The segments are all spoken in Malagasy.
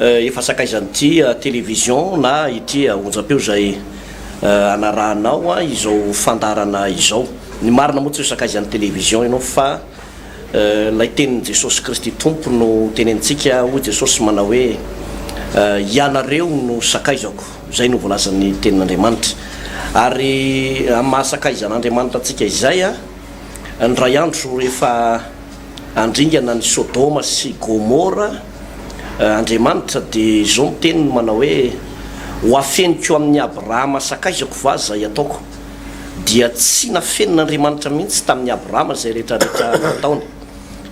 Efa sakaizan'ity television na ity onjampeo izay anarahanao izao fandaharana izao. Ny marina moa tsy ho sakaizan'ny television ianao fa ilay tenin'i Jesosy Kristy Tompo no tenenintsika, hoy Jesosy manao hoe, Ianareo no sakaizako. Izay no voalazan'ny Tenin'Andriamanitra. Ary amin'ny maha sakaizan'Andriamanitra antsika izay, indray andro rehefa handringana ny Sodoma sy Gomora, Andriamanitra dia izao miteny no manao hoe, Ho afeniko amin'i Abrahama sakaizako va izay ataoko? Dia tsy nafenin'Andriamanitra mihitsy tamin'i Abrahama izay rehetra rehetra nataony.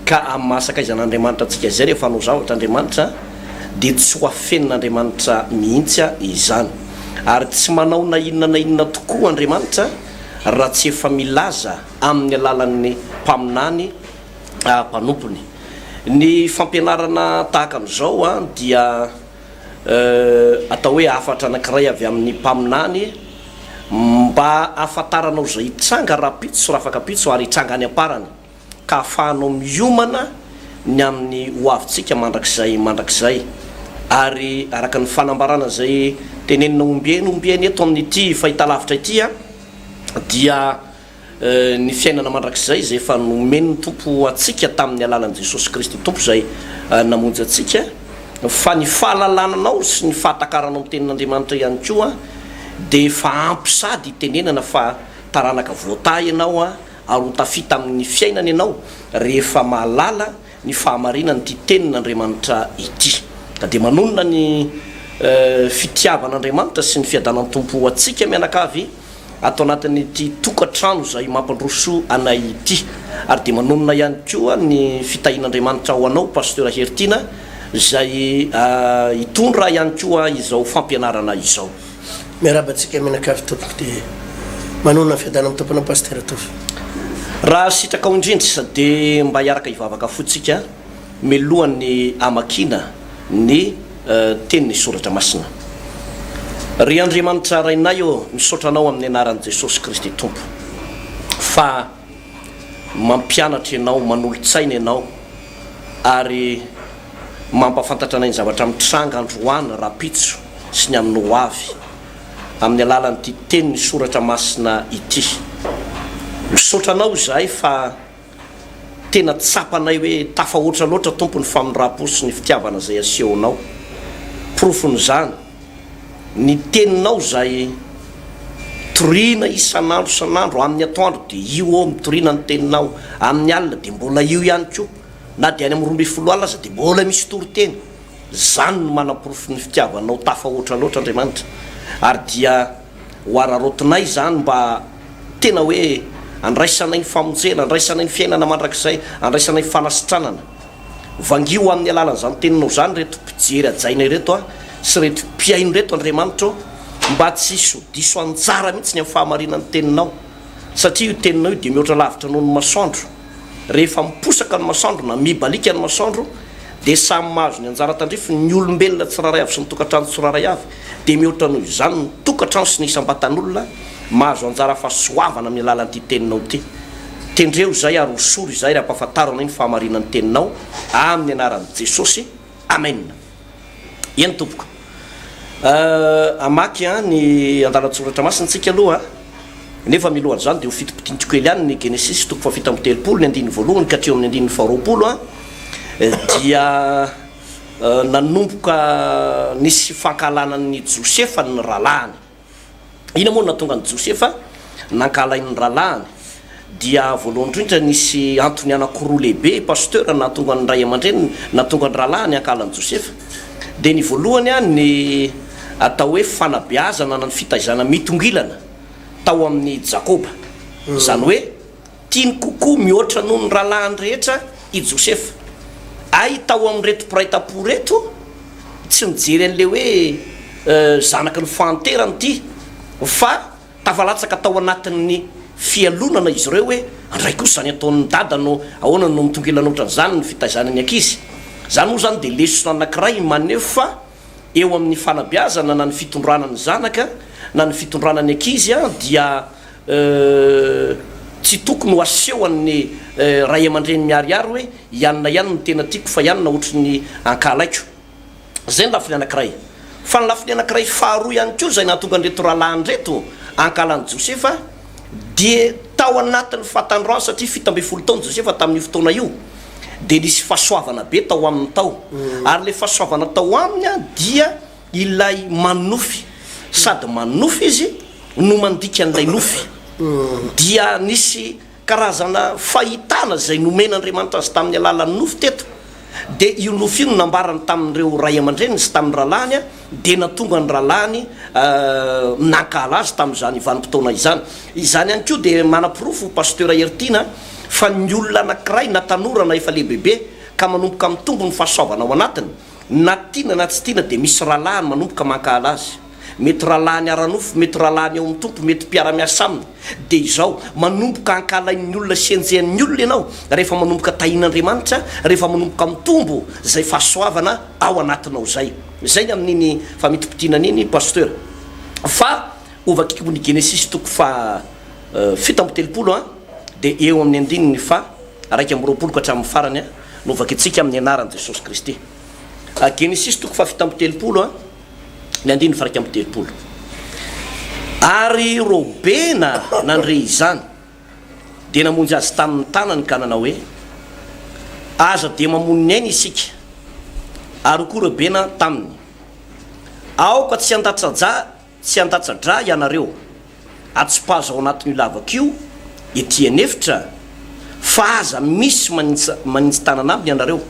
Ka amin'ny maha sakaizan'Andriamanitra antsika izay rehefa hanao zavatra Andriamanitra dia tsy ho afenin'Andriamanitra mihitsy izany. Ary tsy manao na inona na inona tokoa Andriamanitra raha tsy efa milaza amin'ny alalan'ny mpaminany mpanompony. Ny fampianarana tahaka an'izao dia atao hoe hafatra anankiray avy amin'ny mpaminany mba hahafantaranao izay hitranga rahampitso sy rahafakampitso ary hitranga any am-parany ka ahafahanao miomana ny amin'ny ho avintsika mandrakizay mandrakizay. Ary araka ny fanambarana izay tenenina ombieny ombieny eto amin'ity fahitalavitra ity dia ny fiainana mandrakizay izay efa nomen'ny Tompo antsika tamin'ny alalan'i Jesosy Kristy Tompo izay namonjy antsika, fa ny fahalalananao sy ny fahatakaranao ny Tenin'Andriamanitra ihany koa dia efa ampy sady hitenenana fa taranaka voatahy ianao ary ho tafita amin'ny fiainana ianao rehefa mahalala ny fahamarinan-ity Tenin'Andriamanitra ity, ka dia manonona ny fitiavan'Andriamanitra sy ny fiadanan'ny Tompo ho antsika mianakavy ato anatin'ity tokantrano izay mampandroso anay ity, ary dia manonona ihany koa ny fitahian'Andriamanitra ho anao Pasteur Heritiana izay hitondra ihany koa izao fampianarana izao. Miarahaba antsika mianakavy tompoko de manonona fiadanana amin'ny tompona Pasteur Tovo. Raha sitrakao indrindra dia mba hiaraka hivavaka fo tsika milohan'ny hamakiana ny teniny soratra masina. Ry Andriamanitra Rainay ô misaotra Anao amin'ny anaran'i Jesosy Kristy Tompo fa mampianatra ianao, manolo-tsaina ianao ary mampahafantatra anay ny zavatra mitranga androany rahampitso sy ny amin'ny ho avy, amin'ny alalan'ity tenin'ny soratra masina ity. Misaotra anao izahay fa tena tsapanay hoe tafahoatra loatra Tompo ny famindram-po sy ny fitiavana izay asehonao. Porofon'izany ny teninao izay toriana isan'andro isan'andro, amin'ny atoandro dia io ô mitoriana ny teninao, amin'ny alina dia mbola io ihany koa. Na dia any amin'ny roa ambin'ny folo alina aza dia mbola misy toriteny. Izany no manaporofo ny fitiavanao tafahoatra loatra Andriamanitra. Ary dia ho araraotinay izany mba tena hoe andraisanay ny famonjena, andraisanay ny fiainana mandrakizay, andraisanay ny fanasitranana. Vangio amin'ny alalan'izany Teninao izany ireto mpijery hajaina ireto an, sy ireto mpihaino ireto Andriamanitra ô, mba tsy hisy ho diso anjara mihitsy ny amin'ny fahamarinan'ny Teninao. Satria io Teninao io dia mihoatra lavitra noho ny masoandro. Rehefa miposaka ny masoandro na mibaliaka ny masoandro dia samy mahazo ny anjara tandrifiny ny olombelona tsirairay avy sy ny tokantrano tsirairay avy dia mihoatra noho izany ny tokantrano sy ny isam-batan'olona mahazo anjara fahasoavana amin'ny alalan'ity teninao ity. Tendreo izay ary hosory izay ry ampahafantaro anay ny fahamarinan'ny teninao amin'ny anaran'i Jesosy. Amena. Eny tompoko. Euh hamaky an ny andalan-tsoratra masina tsika aloha a. Nefa miloha an'izany dia ho fitopitiantiko kely ihany ny Genesisy toko fahafito amby telopolo ny andininy voalohany ka hatreo amin'ny andininy faharoapolo a. Dia nanomboka nisy fankahalana an'i Josefa ny rahalahiny. Inona moa no nahatonga an'i Josefa nankahala aina ny rahalahiny? Dia voalohany indrindra nisy antony anankiroa lehibe Pasteur nahatonga ny ray aman-dreniny nahatonga ny rahalahiny hankahala an'i Josefa. Dia ny voalohany ny atao hoe fanabeazana na ny fitaizana mitongilana tao amin'i Jakoba. Izany hoe. Tiany kokoa mihoatra noho ny rahalahiny rehetra i Josefa. Hay tao amin'ireto mpiray tam-po ireto, tsy nijery an'ilay hoe zanaky ny fahanterany ity, fa tafalatsaka tao anatin'ny fialonana izy ireo hoe, Andray kosa izany ataon'ny dada no ahoana no mitonkelana ohatran'izany ny fitaizana ny ankizy? Izany moa izany dia lesona anankiray maneho fa. eo amin'ny fanabeazana na ny fitondrana ny zanaka na ny fitondrana ny ankizy dia tsy tokony ho asehon'ny ray aman-dreny miharihary hoe i anona ihany no tena tiako fa i anona ohatry ny ankahalaiko. Izay ny lafiny anankiray. Fa ny lafiny anankiray faharoa ihany koa izay nahatonga an'ireto rahalahy an'ireto ankahalan'i Josefa, Dia tao anatin'ny fahatandroany, satria fito ambin'ny folo taona Josefa tamin'io fotoana io, dia nisy fahasoavana be tao aminy tao. Ary ilay fahasoavana tao aminy dia ilay manonofy, sady manonofy izy no mandika an'ilay nofy. Dia nisy karazana fahitana izay nomen'Andriamanitra azy tamin'ny alalan'ny nofy teto. Dia io nofy io no nambarany tamin'ireo ray aman-dreniny sy tamin'ny rahalahiny, dia nahatonga ny rahalahiny nankahala azy tamin'izany vanim-potoana izany. Izany ihany koa dia manaporofo Pasteur Heritiana fa ny olona anankiray na tanora na efa lehibebe ka manomboka mitombo ny fahasoavana ao anatiny, na tiana na tsy tiana dia misy rahalahiny manomboka mankahala azy. mety rahalahiny ara-nofo, mety rahalahiny ao amin'ny Tompo, mety mpiara-miasa aminy, dia izao, manomboka ankahalain'ny olona sy henjehan'ny olona ianao rehefa manomboka tahian'Andriamanitra, rehefa manomboka mitombo izay fahasoavana ao anatinao izay. Izay ny amin'iny famintimpitianana iny Pasteur. Fa ho vakiko ny Genesisy toko faha fito amby telopolo an, dia eo amin'ny andininy faha iraika amby roapolo ka hatramin'ny farany no vakintsika amin'ny anaran'i Jesosy Kristy. Genesisy toko faha fito amby telopolo an. ny andininy faha iraika amby telopolo, Ary Robena nandre izany, dia namonjy azy tamin' ny tanany ka nanao hoe, Aza dia mamono ny ainy isika. Ary hoy koa Robena taminy, Aoka tsy handatsa-dra tsy handatsa-dra hianareo, atsipazo ao anatin' io lavako io ety an' efitra, fa aza misy manints manintsitanana aminy hianareo,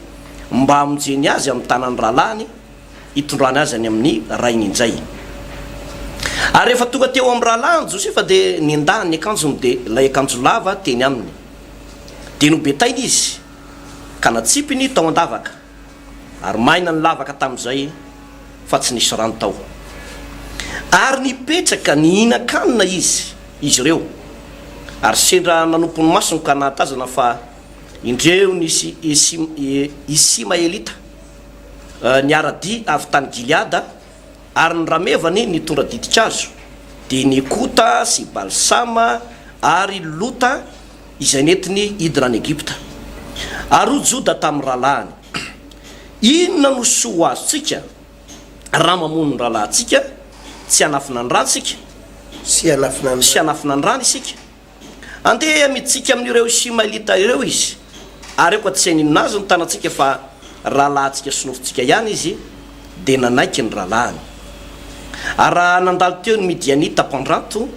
mba hamonjeny azy amin' ny tanan' ny rahalahiny, hitondrany azy any amin'ny rainy injay. Ary rehefa tonga teo amin'ny rahalahiny Josefa dia nendahany ny akanjony dia ilay akanjo lava teny aminy. Dia nobetainy izy ka natsipiny tao an-davaka, ary maina ny lavaka tamin'izay fa tsy nisy rano tao. Ary nipetraka nihinan-kanina izy, izy ireo, ary sendra nanompo ny masony ka nahatazana fa indreo nisy Isimaelita. niara-dia avy tany Gileada, ary ny ramevany nitondra ditin-kazo, dia Nekota sy Balsama ary Lota izay nentiny hidina any Egypta. Ary hoy Joda tamin'ny rahalahiny, Inona no soa ho azontsika raha mamono ny rahalahintsika tsy hanafina ny ràntsika? Tsy hanafina ny ràny isika. Andeha mitsiky amin'ireo Isimaelita ireo izy, ary aoka tsy haninona azy ny tanantsika fa rahalahintsika sy nofontsika ihany izy, dia nanaiky ny rahalahiny. Ary raha nandalo teo ny Midianita mpandranto,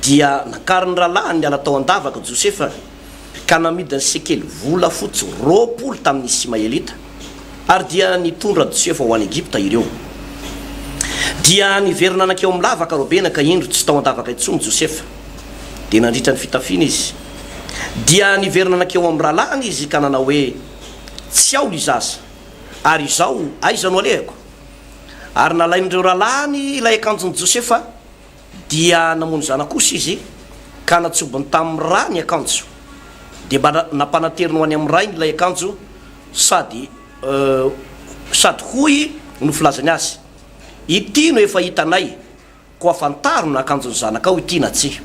dia nakarin'ny rahalahiny niala tao an-davaka Josefa. ka namidin'ny sekely volafotsy roapolo tamin'ny Isimaelita, ary dia nitondra Josefa ho any Egypta ireo. Dia niverina nankeo amin'ny lavaka Robena, ka indro tsy tao an-davaka intsony Josefa. Dia nandritra ny fitafiana izy. Dia niverina nankeo amin'ny rahalahiny izy ka nanao hoe, Tsy ao ilay zaza, ary izao aiza no alehako? Ary nalain'ireo rahalahiny ilay akanjon'i Josefa, Dia namono zanaka kosa izy, ka natsobony tamin'ny ra ny akanjo. Dia mba nampanateriny ho any amin'ny rainy ilay akanjo, sady, euh, sady hoy no filazany azy, Ity no efa hitanay, koa fantaro na akanjon'ny zanakao ity na tsia.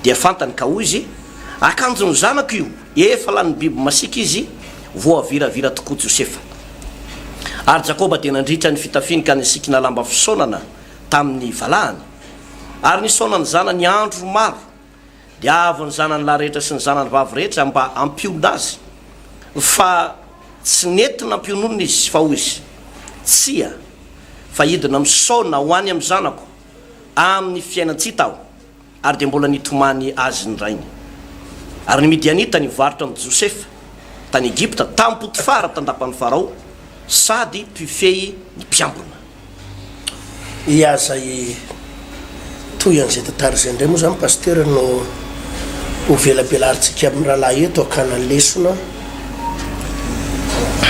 Dia fantany, ka hoy izy, Akanjon'ny zanako io! Efa lanin'ny biby masiaka izy, voaviravira tokoa Josefa. Ary Jakoba dia nandritra ny fitafiny ka nisikina lamba fisaonana, tamin'ny valahany. Ary nisaona ny zanany andro maro, dia avy ny zanany lahy rehetra sy ny zanany vavy rehetra mba hampionona azy, fa tsy nety nampiononina izy, fa hoy izy, Tsia, fa hidina misaona ho any amin'ny zanako amin'ny fiainan-tsita aho. Ary dia mbola nitomany azy ny rainy. Ary ny Midianita nivarotra an'i Josefa tany Egypta tamin'i Potifara tandapan'i Farao, sady mpifehy ny mpiambina. Ia zay toy an'izay tantara izay indray moa zany Pasitera no ho velabelaritsika amin'ny rahalahy eto hakana lesona,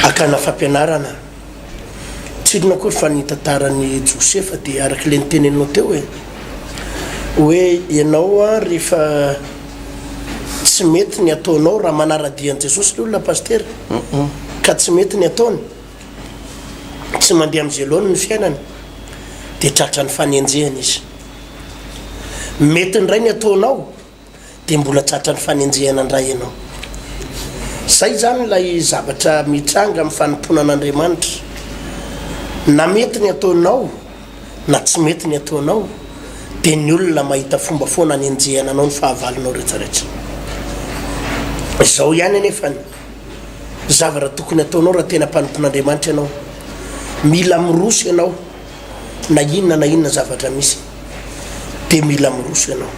hakana fampianarana. tsy inona akory fa ny tantaran'i Josefa dia araka ilay niteneninao teo e! hoe ianao an rehefa tsy mety ny ataonao raha manara-dia an'i Jesosy ny olona Pasitera ka tsy mety ny ataony, tsy mandeha amin'ny zélo-ny ny fiainany dia tratran'ny fanenjehana izy. Mety indray ny ataonao. dia mbola tratran'ny fanenjehana indray ianao. Izay izany ilay zavatra mitranga amin'ny fanompoana an'Andriamanitra. Na mety ny ataonao, na tsy mety ny ataonao, dia ny olona mahita fomba foana hanenjehana anao ny fahavalonao rehetra rehetra. Izao ihany anefa ny zavatra tokony ataonao raha tena mpanompon'Andriamanitra ianao. Mila miroso ianao. na inona na inona zavatra misy dia mila miroso ianao.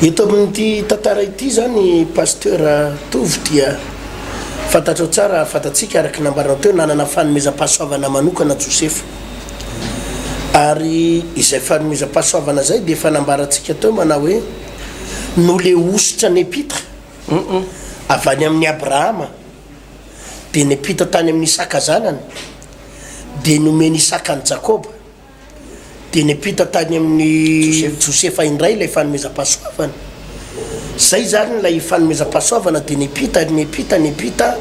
Eto amin'ity tantara ity izany Pasteur Tovo dia fantatrao tsara, fantatsika araka ny nambaranao teo, nanana fanomezam-pahasoavana manokana Josefa. Ary izay fanomezam-pahasoavana izay dia efa nambarantsika teo manao hoe noleositra Nepitre avy any amin'i Abrahama. dia niampita tany amin'i Isaka zanany, dia nomen'i Isaka an'i Jakoba, dia niampita tany amin'i Josefa indray ilay fanomezam-pahasoavana. Izay izany ilay fanomezam-pahasoavana, dia niampita, niampita, niampita,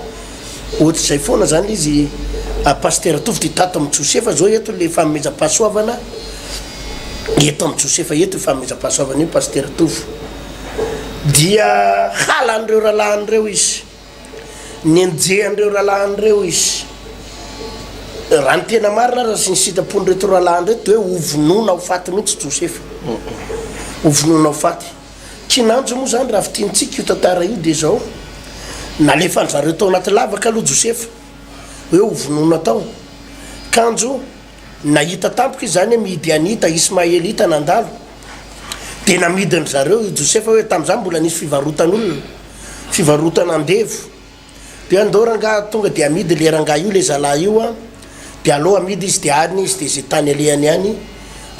ohatr'izay foana izany ilay izy. Ah, Pasitera Tovo, dia tato amin'i Josefa izao eto ilay fanomezam-pahasoavana, eto amin'i Josefa eto io fanomezam-pahasoavana io, Pasitera Tovo. Dia halan'ireo rahalahin'ireo izy. Nianjeha an'ireo rahalahiny ireo izy. Raha ny tena marina ary ny sitrapon'ireto rahalahiny ireto dia hoe hovonoina ho faty mihitsy Josefa. Hovonoina ho faty. Kinanjo moa izany raha fintinitsika io tantara io dia izao, nalefan'izareo tao anaty lavaka aloha Josefa, hoe hovonoina tao. Kanjo. Nahita tampoka izany Midianita, Ismaelita nandalo, dia namidin-dry zareo i Josefa hoe, tamin'izany mbola nisy fivarotan'olona, fivarotana andevo, dia hoe, andao rangahy tonga dia amidy ilay rangahy io, ilay zalahy io an, dia alao amidy izy dia any izy, dia izay tany alehany any,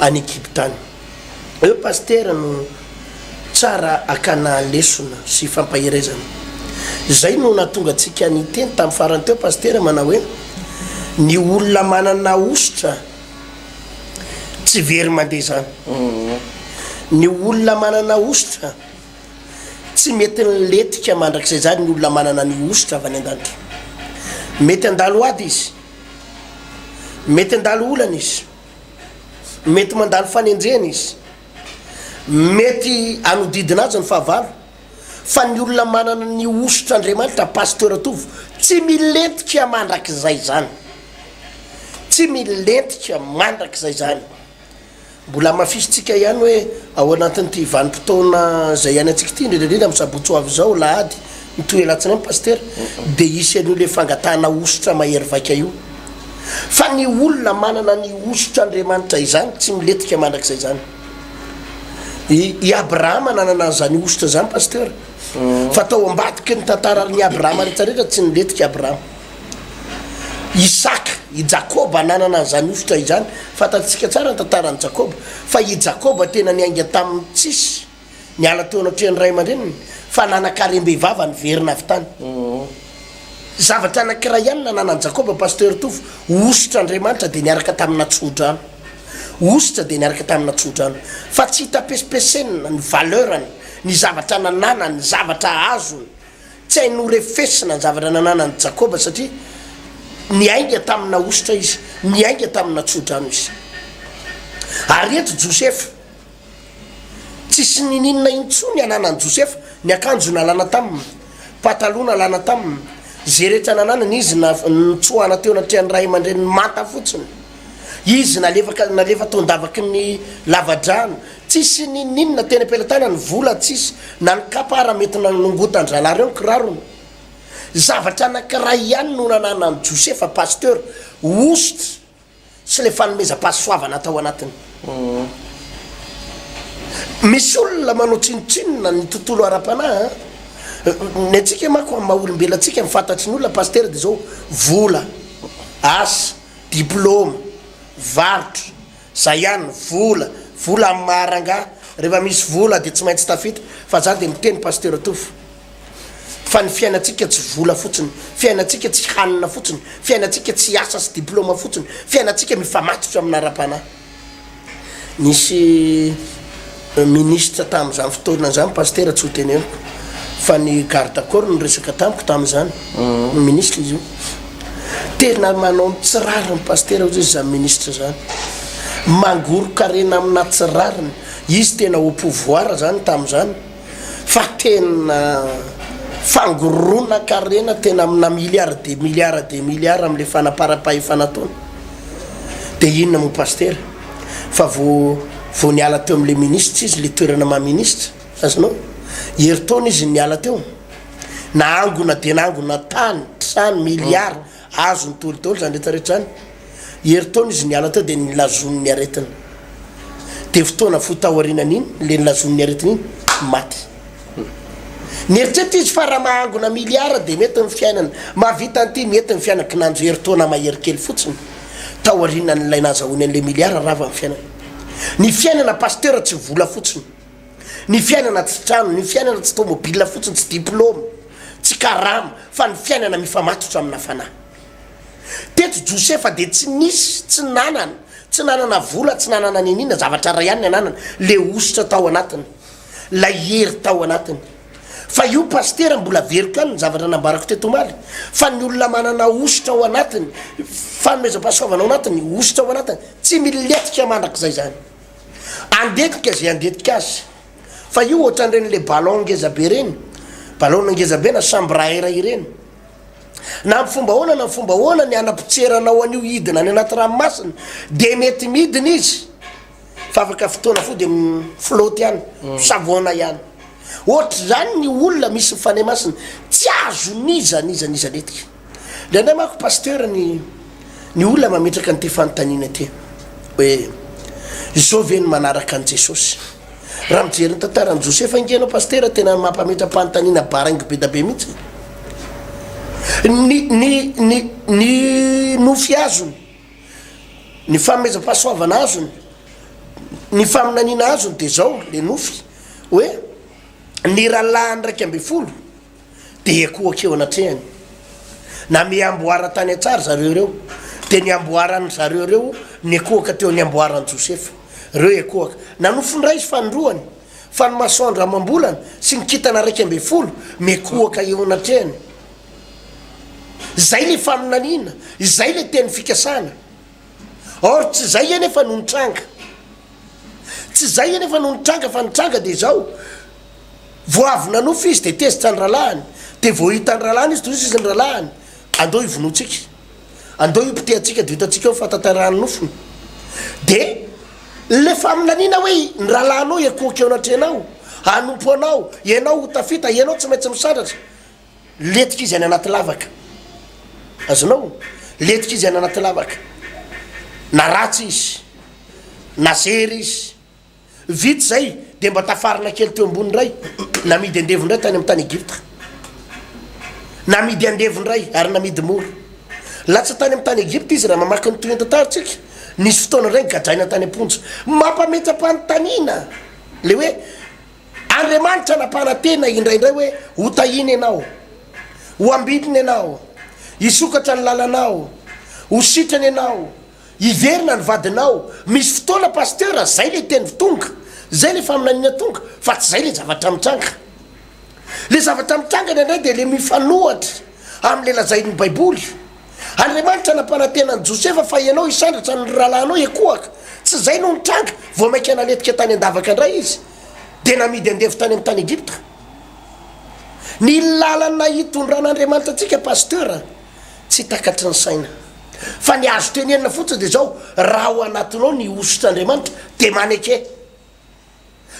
any Egypta any. Eo Pasitera no tsara akana lesona sy fampaherezana. Zay no nahatonga antsika niteny tam farany teo Pasitera manao hoe ny olona manana hosotra tsy very mandeha zany. Ny olona manana hosotra tsy mety niletika mandrakizay zany ny olona manana ny hosotra avy any andanitra. Mety handalo ady izy, mety handalo olana izy. Mety mandalo fanenjehana izy. Mety hanodidina azy ny fahavalo. Fa ny olona manana ny hosotr' Andriamanitra, Pasteur Tovo, tsy milentika mandrakizay izany. Tsy milentika mandrakizay izany. Mbola hamafisintsika ihany hoe ao anatin'ity vanim-potoana izay iainantsika ity, indrindra indrindra amin'ny sabotsy ho avy izao, alahady, Mitohy alatsinainy Pasitera dia hisy an'io ilay fangatahana hosotra mahery vaika io. Fa ny olona manana ny hosotra Andriamanitra izany tsy miletika mandrakizay izany. I i Abrahama nanana an'izany hosotra izany Pasitera. Fa tao ambadiky ny tantara ry ny Abrahama rehetra rehetra tsy niletika Abrahama. Isaka, i Jakoba nanana an'izany hosotra izany. Fantatsika tsara ny tantaran'i Jakoba. Fa i Jakoba tena niainga tamin'ny tsisy. Niala teo anatrehan'ny ray aman-dreniny fa nanan-karem-behivava niverina avy tany. Zavatra anankiray ihany nananan'i Jakoba, Pasteur Tovo, hosotra Andriamanitra dia niaraka tamina tsodrano. Hosotra dia niaraka tamina tsodrano. Fa tsy hita pesipesenina ny valeur-ny, ny zavatra nananany, ny zavatra azony. Tsy hainy norefesina ny zavatra nananan'i Jakoba satria niainga tamina hosotra izy, niainga tamina tsodrano izy. Ary eto Josefa, Tsisy nininona intsony ananan'i Josefa, ny akanjo nalana taminy, pataloha nalana taminy, izay rehetra nananany, izy nitsoahana teo anatrehan'ny ray aman-dreniny manta fotsiny. Izy nalefaka, nalefa tao an-davaky ny lavadrano. Tsisy nininona, teny am-pelatanany, vola tsisy, na ny kapa ary mety nanongotan-drahalahy ireo ny kirarony. Zavatra anankiray ihany no nananan'i Josefa, Pasteur, hosotra sy le fanomezam-pahasoavana tao anatiny. Misy olona manao tsinontsinona ny tontolo ara-panahy an! Ny antsika manko amin'ny maha olombelona antsika ny fantatry ny olona Pasitera dia izao, vola, asa, diploma, varotra, izay ihany, vola, vola amin'ny maha rangahy, rehefa misy vola dia tsy maintsy tafita, fa za dia miteny Pasitera Touffe, Fa ny fiainantsika tsy vola fotsiny, fiainantsika tsy hanina fotsiny, fiainantsika tsy asa sy diplaoma fotsiny, fiainantsika mifamatotra amina ara-panahy. Nisy minisitra tamin'izany fotoana izany Pasitera tsy ho teneniko fa ny garde corps no niresaka tamiko tamin'izany, minisitra izy io. Tena manao ny tsy rariny Pasitera hozy izany minisitra izany. Mangoron-karena amina tsy rariny. Izy tena au pouvoir izany tamin'izany. fa tena fangoronan-karena tena amina milliards des milliards des milliards amin'ilay fanamparam-pahefana ataony dia inona moa pasitera fa vao vao niala teo amin'ilay minisitra izy ilay toerana maha minisitra azonao herintaona izy niala teo nahangona dia nahangona tany trano milliards Azony tory daholo izany rehetra rehetra izany. Herintaona izy niala teo dia nilazony ny aretiny. Dia fotoana fohy taorianan'iny, ilay nilazony ny aretiny iny, maty. Nieritreritra izy fa raha mahangona miliara dia mety ny fiainana, mahavita an'ity mety ny fiainana, kinanjo herintaona mahery kely fotsiny taorianan'ilay nahazahoany an'ilay miliara rava ny fiainana. Ny fiainana Pasteur tsy vola fotsiny. Ny fiainana tsy trano, ny fiainana tsy tômôbila fotsiny, tsy diplôma, tsy karama, fa ny fiainana mifamatotra amina fanahy. Teto Josefa dia tsy nisy, tsy nanana, tsy nanana vola, tsy nanana niniana, zavatra iray ihany ny ananany, le hosotra tao anatiny, lay hery tao anatiny. Fa io Pasitera mbola veriko ihany ny zavatra nambarako teto omaly, fa ny olona manana hosotra ao anatiny, fanomezam-pahasoavana ao anatiny, hosotra ao anatiny, tsy milentika mandrakizay izany. Andetika ze andetika azy fa io otranreny le ballon ngeza be reny ballon ngeza be na chambre à air ireny na am fomba ahoana na am fomba ahoana ny hanapotseranao an'io hidina any anaty ranomasina de mety midina izy fa afaka fotoana fo de flotte ihany savona ihany ohatr'izany ny olona misy ny fanahy masina tsy azon'iza n'iza n'iza netika Ny anay manko Pasteur ny ny olona mametraka an'ity fanontaniana ity hoe izao ve ny manaraka an'i Jesosy? Raha mijery ny tantaran'i Josefa ange ianao Pasteur tena mampametra-panontaniana baraingo be da be mihitsy e! Ny ny ny ny nofy azony, ny fanomezam-pahasoavana azony, ny faminaniana azony dia izao le nofy hoe ny rahalahiny raika ambin'ny folo, dia ekoaka eo anatrehany. Namehy amboara tany an-tsaha ry zareo ireo, dia ny amboaran-dry zareo ireo nikoaka teo ny amboaran'i Josefa. Ireo ekoaka. Nanofy ny ray izy fanindroany, fa ny masoandro amam-bolana sy ny kintana iraika ambin'ny folo mikoaka eo anatrehany. Izay ilay faminaniana, izay ilay teny fikasana. Or, tsy izay anefa no nitranga. Tsy izay anefa no nitranga fa nitranga dia izao, vao avy nanofy izy dia tezitra ny rahalahiny, dia vao hitan'ny rahalahiny izy dia hoy izy ny rahalahiny, andao hivonoantsika, andao hipotehantsika dia ho hitantsika eo ny fahatanterahany nofiny. Dia ilay faminaniana hoe ny rahalahinao hiankohoka eo anatrehanao, hanompo anao, ianao ho tafita, ianao tsy maintsy misandratra. Letika izy any anaty lavaka. Azonao? Letika izy any anaty lavaka. Na ratsy izy, na zery izy. Vita izay, dia mba tafarina kely teo ambony indray. Namidy andevo indray tany amin'ny tany Egypta. Namidy andevo indray, ary namidy mora. Latsa tany amin'ny tany Egypta izy, raha mamaky ny tohintantarintsika. Nisy fotoana indray nigadraina tany am-ponja. Mampametra-panontaniana ilay hoe Andriamanitra nampanantena indraindray hoe, Hotahina ianao, ho ambidina ianao, hisokatra ny lalanao, ho sitrana ianao, hiverina ny vadinao. Misy fotoana Pasteur, zay le teny tonga, zay le faminaniana tonga, fa tsy zay le zavatra mitranga. Le zavatra mitranga indraindray dia le mifanohatra amin'le lazain'ny baiboly. Andriamanitra nampanantena an'i Josefa fa ianao hisandratra ny rahalahinao ekoaka. Tsy izay no nitranga, vao mainka naletika tany an-davaka indray izy, dia namidy andevo tany amin'ny tany Egypta. Ny lalana hitondran'Andriamanitra antsika Pasteur tsy takatry ny saina. Fa ny azo tenenina fotsiny dia izao, raha ao anatinao ny hosotr'Andriamanitra dia maneke.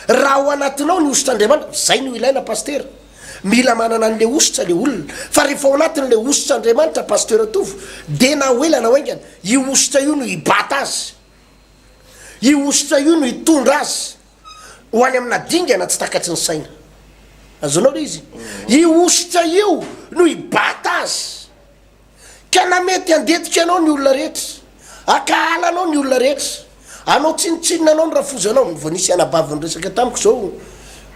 Raha ao anatinao ny hositr'Andriamanitra, izay no ilaina Pasitera. Mila manana an'ilay hositra ilay olona. Fa rehefa ao anatin'ilay hositr'Andriamanitra Pasitera Tovo, dia na ho ela na ho haingana, io hositra io no hibata azy. Io hositra io no hitondra azy ho any amina dingana tsy takatry ny saina. Azonao ilay izy? Io hositra io no hibata azy. Ka na mety handetika anao ny olona rehetra, hakahala anao ny olona rehetra, hanao tsinontsinona anao ny rafozanao, ny vao nisy anabavy niresaka tamiko zao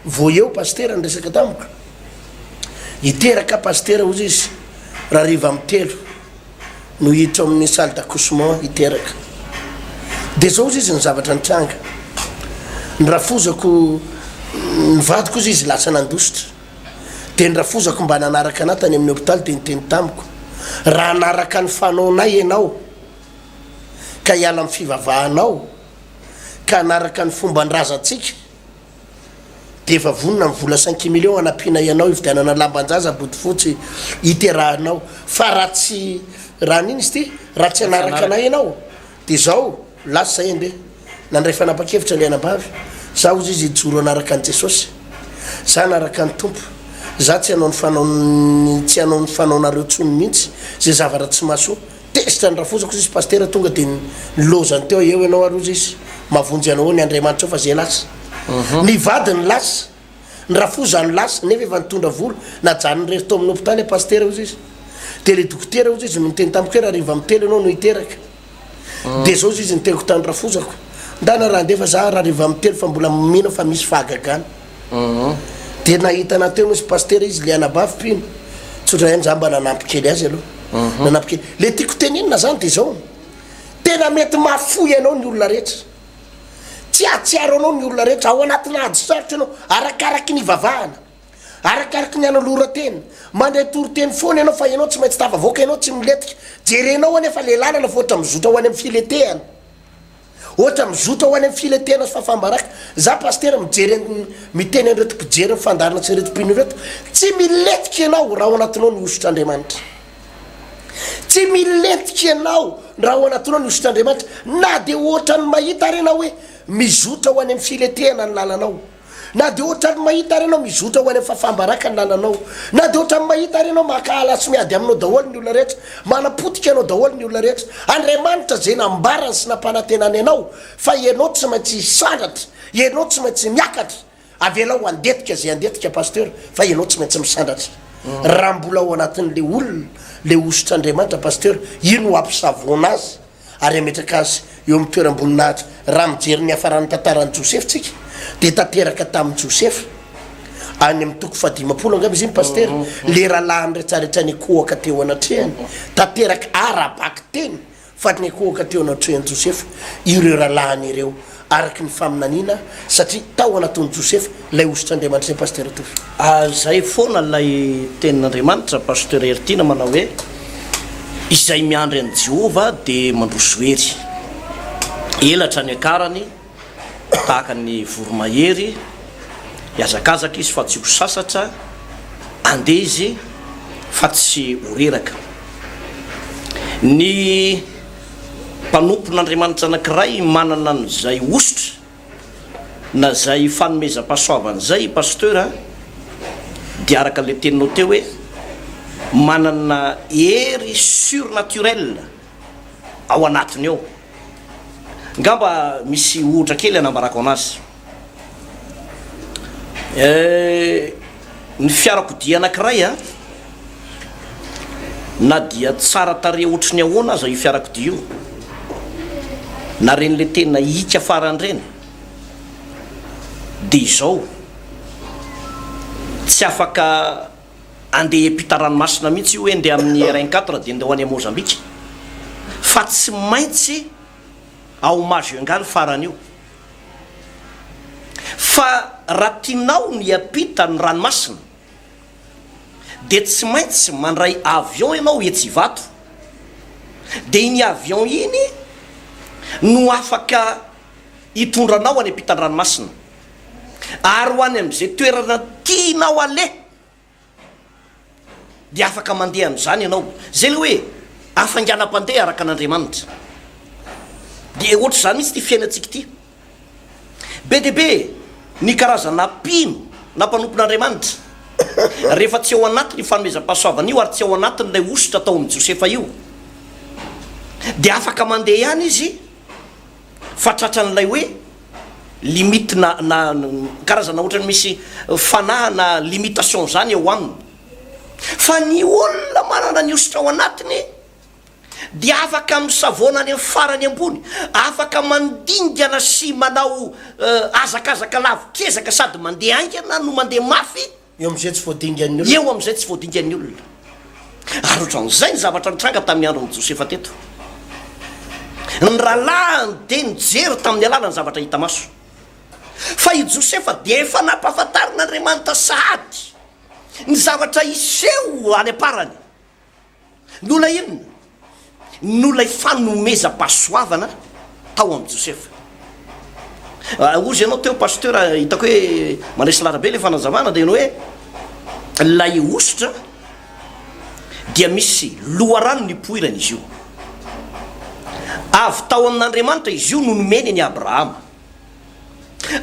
vao eo pasitera niresaka tamiko, hiteraka pasitera ozy izy raha hariva amin'ny telo no hiditra ao amin'ny salle d'accouchement hiteraka, de zao ozy izy ny zavatra nitranga, ny rafozako, ny vadiko ozy izy lasa nandositra. Dia ny rafozako mba nanaraka anah tany amin'ny hopitaly dia niteny tamiko, Raha hanaraka ny fanaonay ianao, ka hiala amin'ny fivavahanao, ka hanaraka ny fomban-drazantsika, dia efa vonona ny vola cinq millions hanampiana ianao hividianana lamban-jaza bodofotsy hiterahanao, fa raha tsy, raha an'ino izy ity? raha tsy hanaraka anay ianao, Dia izao, lasa izahay indray. Nandray fanapan-kevitra ilay anabavy, Izaho hozy izy hijoro hanaraka an'i Jesosy. Izaho hanaraka ny Tompo. Izaho tsy hanao ny fanaon'ny, tsy hanao ny fanaonareo intsony mihitsy, izay zavatra tsy mahasoa. Tezitra ny rafozako hozy izy, Pasitera tonga dia nilaozany teo, Eo ianao ary hozy izy. Mahavonjy anao eo ny Andriamanitra eo fa izay lasa. Ny vadiny lasa. ny rafozany lasa nefa efa nitondra vola najanony rery tao amin'ny hopitaly a pasitera ozy izy de le dokotera ozy izy no niteny tamiko hoe rariva am telo ianao no hiteraka de zao ozy izy ny teniko tany rafozako ndana raha andefa za rariva am telo fa mbola mino fa misy fahagagana de nahita anah teo ozy pasitera izy le anabavy mpino tsotra ihany za mba nanampy kely azy aloha nanampy kely le tiako tenenina zany de zao tena mety mahafoy anao ny olona rehetra Tsy hahatsiaro anao ny olona rehetra. Ao anatinà ady sarotra ianao, arakaraky ny ivavahana, arakaraky ny anoloran-tena. Mandray toriteny foana ianao fa ianao tsy maintsy tafavoaka, ianao tsy milentika. Jerenao anie fa ilay làlana fa ohatra mizotra ho any amin'ny filetehana. Ohatra mizotra ho any amin'ny filetehana sy fahafaham-baraka. Izaho Pasitera mijery an'i, miteny an'ireto mpijery ny fandaharana sy ireto mpino ireto, tsy milentika ianao raha ao anatinao ny hosotr'Andriamanitra. Tsy milentika ianao raha ao anatinao ny hosotr'Andriamanitra, na dia hoatran'ny mahita ary ianao hoe mizotra ho any amin'ny filetehana ny lalanao, na dia hoatran'ny mahita ary ianao mizotra ho any amin'ny fahafaham-baraka ny lalanao, na dia hoatran'ny mahita ary ianao mankahala sy miady aminao daholo ny olona rehetra, manapotika anao daholo ny olona rehetra. Andriamanitra izay nambarany sy nampanantenany anao fa ianao tsy maintsy hisandratra, ianao tsy maintsy miakatra. Avelao handetika izay handetika Pasteur fa ianao tsy maintsy misandratra. Raha mbola ao anatin'ilay olona ilay hosotr'Andriamanitra Pasteur, iny no hampisavoana azy ary hametraka azy eo amin'ny toeram-boninahitra. Raha mijery ny hiafaran'ny tantaran'i Josefa isika dia tanteraka tamin'i Josefa, any amin'ny toko fahadimampolo angamba izy iny Pasteur, ilay rahalahiny rehetrarehetra nikohaka teo anatrehany, tanteraka ara-bakiteny Fa nikohoka teo anatrehan'i Josefa ireo rahalahiny ireo, araka ny faminaniana, satria tao anatin'i Josefa ilay hosotr'Andriamanitra Izay Pasitera Tovo. Izay foana ilay tenin'Andriamanitra, Pasitera Heritiana manao hoe, Izay miandry an'i Jehovah dia mandroso hery. Elatra niakarany. Tahaka ny voromahery, hihazakazaka izy fa tsy ho sasatra, handeha izy fa tsy ho reraka. Ny mpanompon'Andriamanitra anankiray manana an'izay hosotra na izay fanomezam-pahasoavana izay, Pasteur a, dia araka ilay teninao teo hoe manana hery surnaturelle ao anatiny ao. Ngamba misy ohatra kely anambarako anazy. Ny fiarakodia anakiray a, na dia tsara tarehy ohatry ny ahoana aza io fiarakodia io, na reny le tena hiaka farany reny, de izao, tsy afaka, andeha hiampita ranomasina mihitsy io hoe ndeha amin'ny rn quatre dia ndeha ho any à Mozambique fa tsy maintsy ao Majunga ny farany io fa raha tianao ny hiampita ny ranomasina dia tsy maintsy mandray avion ianao etsy Ivato dia iny avion iny no afaka hitondra anao any ampitan-dranomasina. ary ho any amin'izay toerana tianao aleha dia afaka mandeha amin'izany ianao, izay ilay hoe hafainganam-pandeha araka an'Andriamanitra. Dia ohatr'izany mihitsy ity fiainantsika ity. Be dia be ny karazana mpino na mpanompon'Andriamanitra rehefa tsy ao anatin'io fanomezam-pahasoavana io ary tsy ao anatin'ilay hosotra ataon'i Josefa io dia afaka mandeha ihany izy, fa tratran'ilay hoe limite na na karazana ohatrany misy fanahy na limitation zany ao aminy fa ny olona manana ny hosotra ao anatiny dia afaka misavoana any amin'ny farany ambony afaka mandingana sy manao hazakazaka lavo kezaka sady mandeha haingana no mandeha mafy Eo amin'izay tsy voadingan'ny olona. Eo amin'izay tsy voadingan'ny olona. Ary ohatran'izay ny zavatra nitranga tamin'ny andron'i Josefa teto. Ny rahalahiny dia nijery tamin'ny alalan'ny zavatra hita maso. Fa i Josefa dia efa nampahafantarin'Andriamanitra sahady ny zavatra hiseho any am-parany. Nola inona? Nolay fanomezam-pahasoavana tao amin'i Josefa. Ah, ozy ianao teo pasteur, hitako hoe manesy larabe ilay fanazavana dia ny hoe lay hosotra dia misy loharano nipoirana izy io. Avy tao amin'Andriamanitra izy io no nomeny ny Abrahama.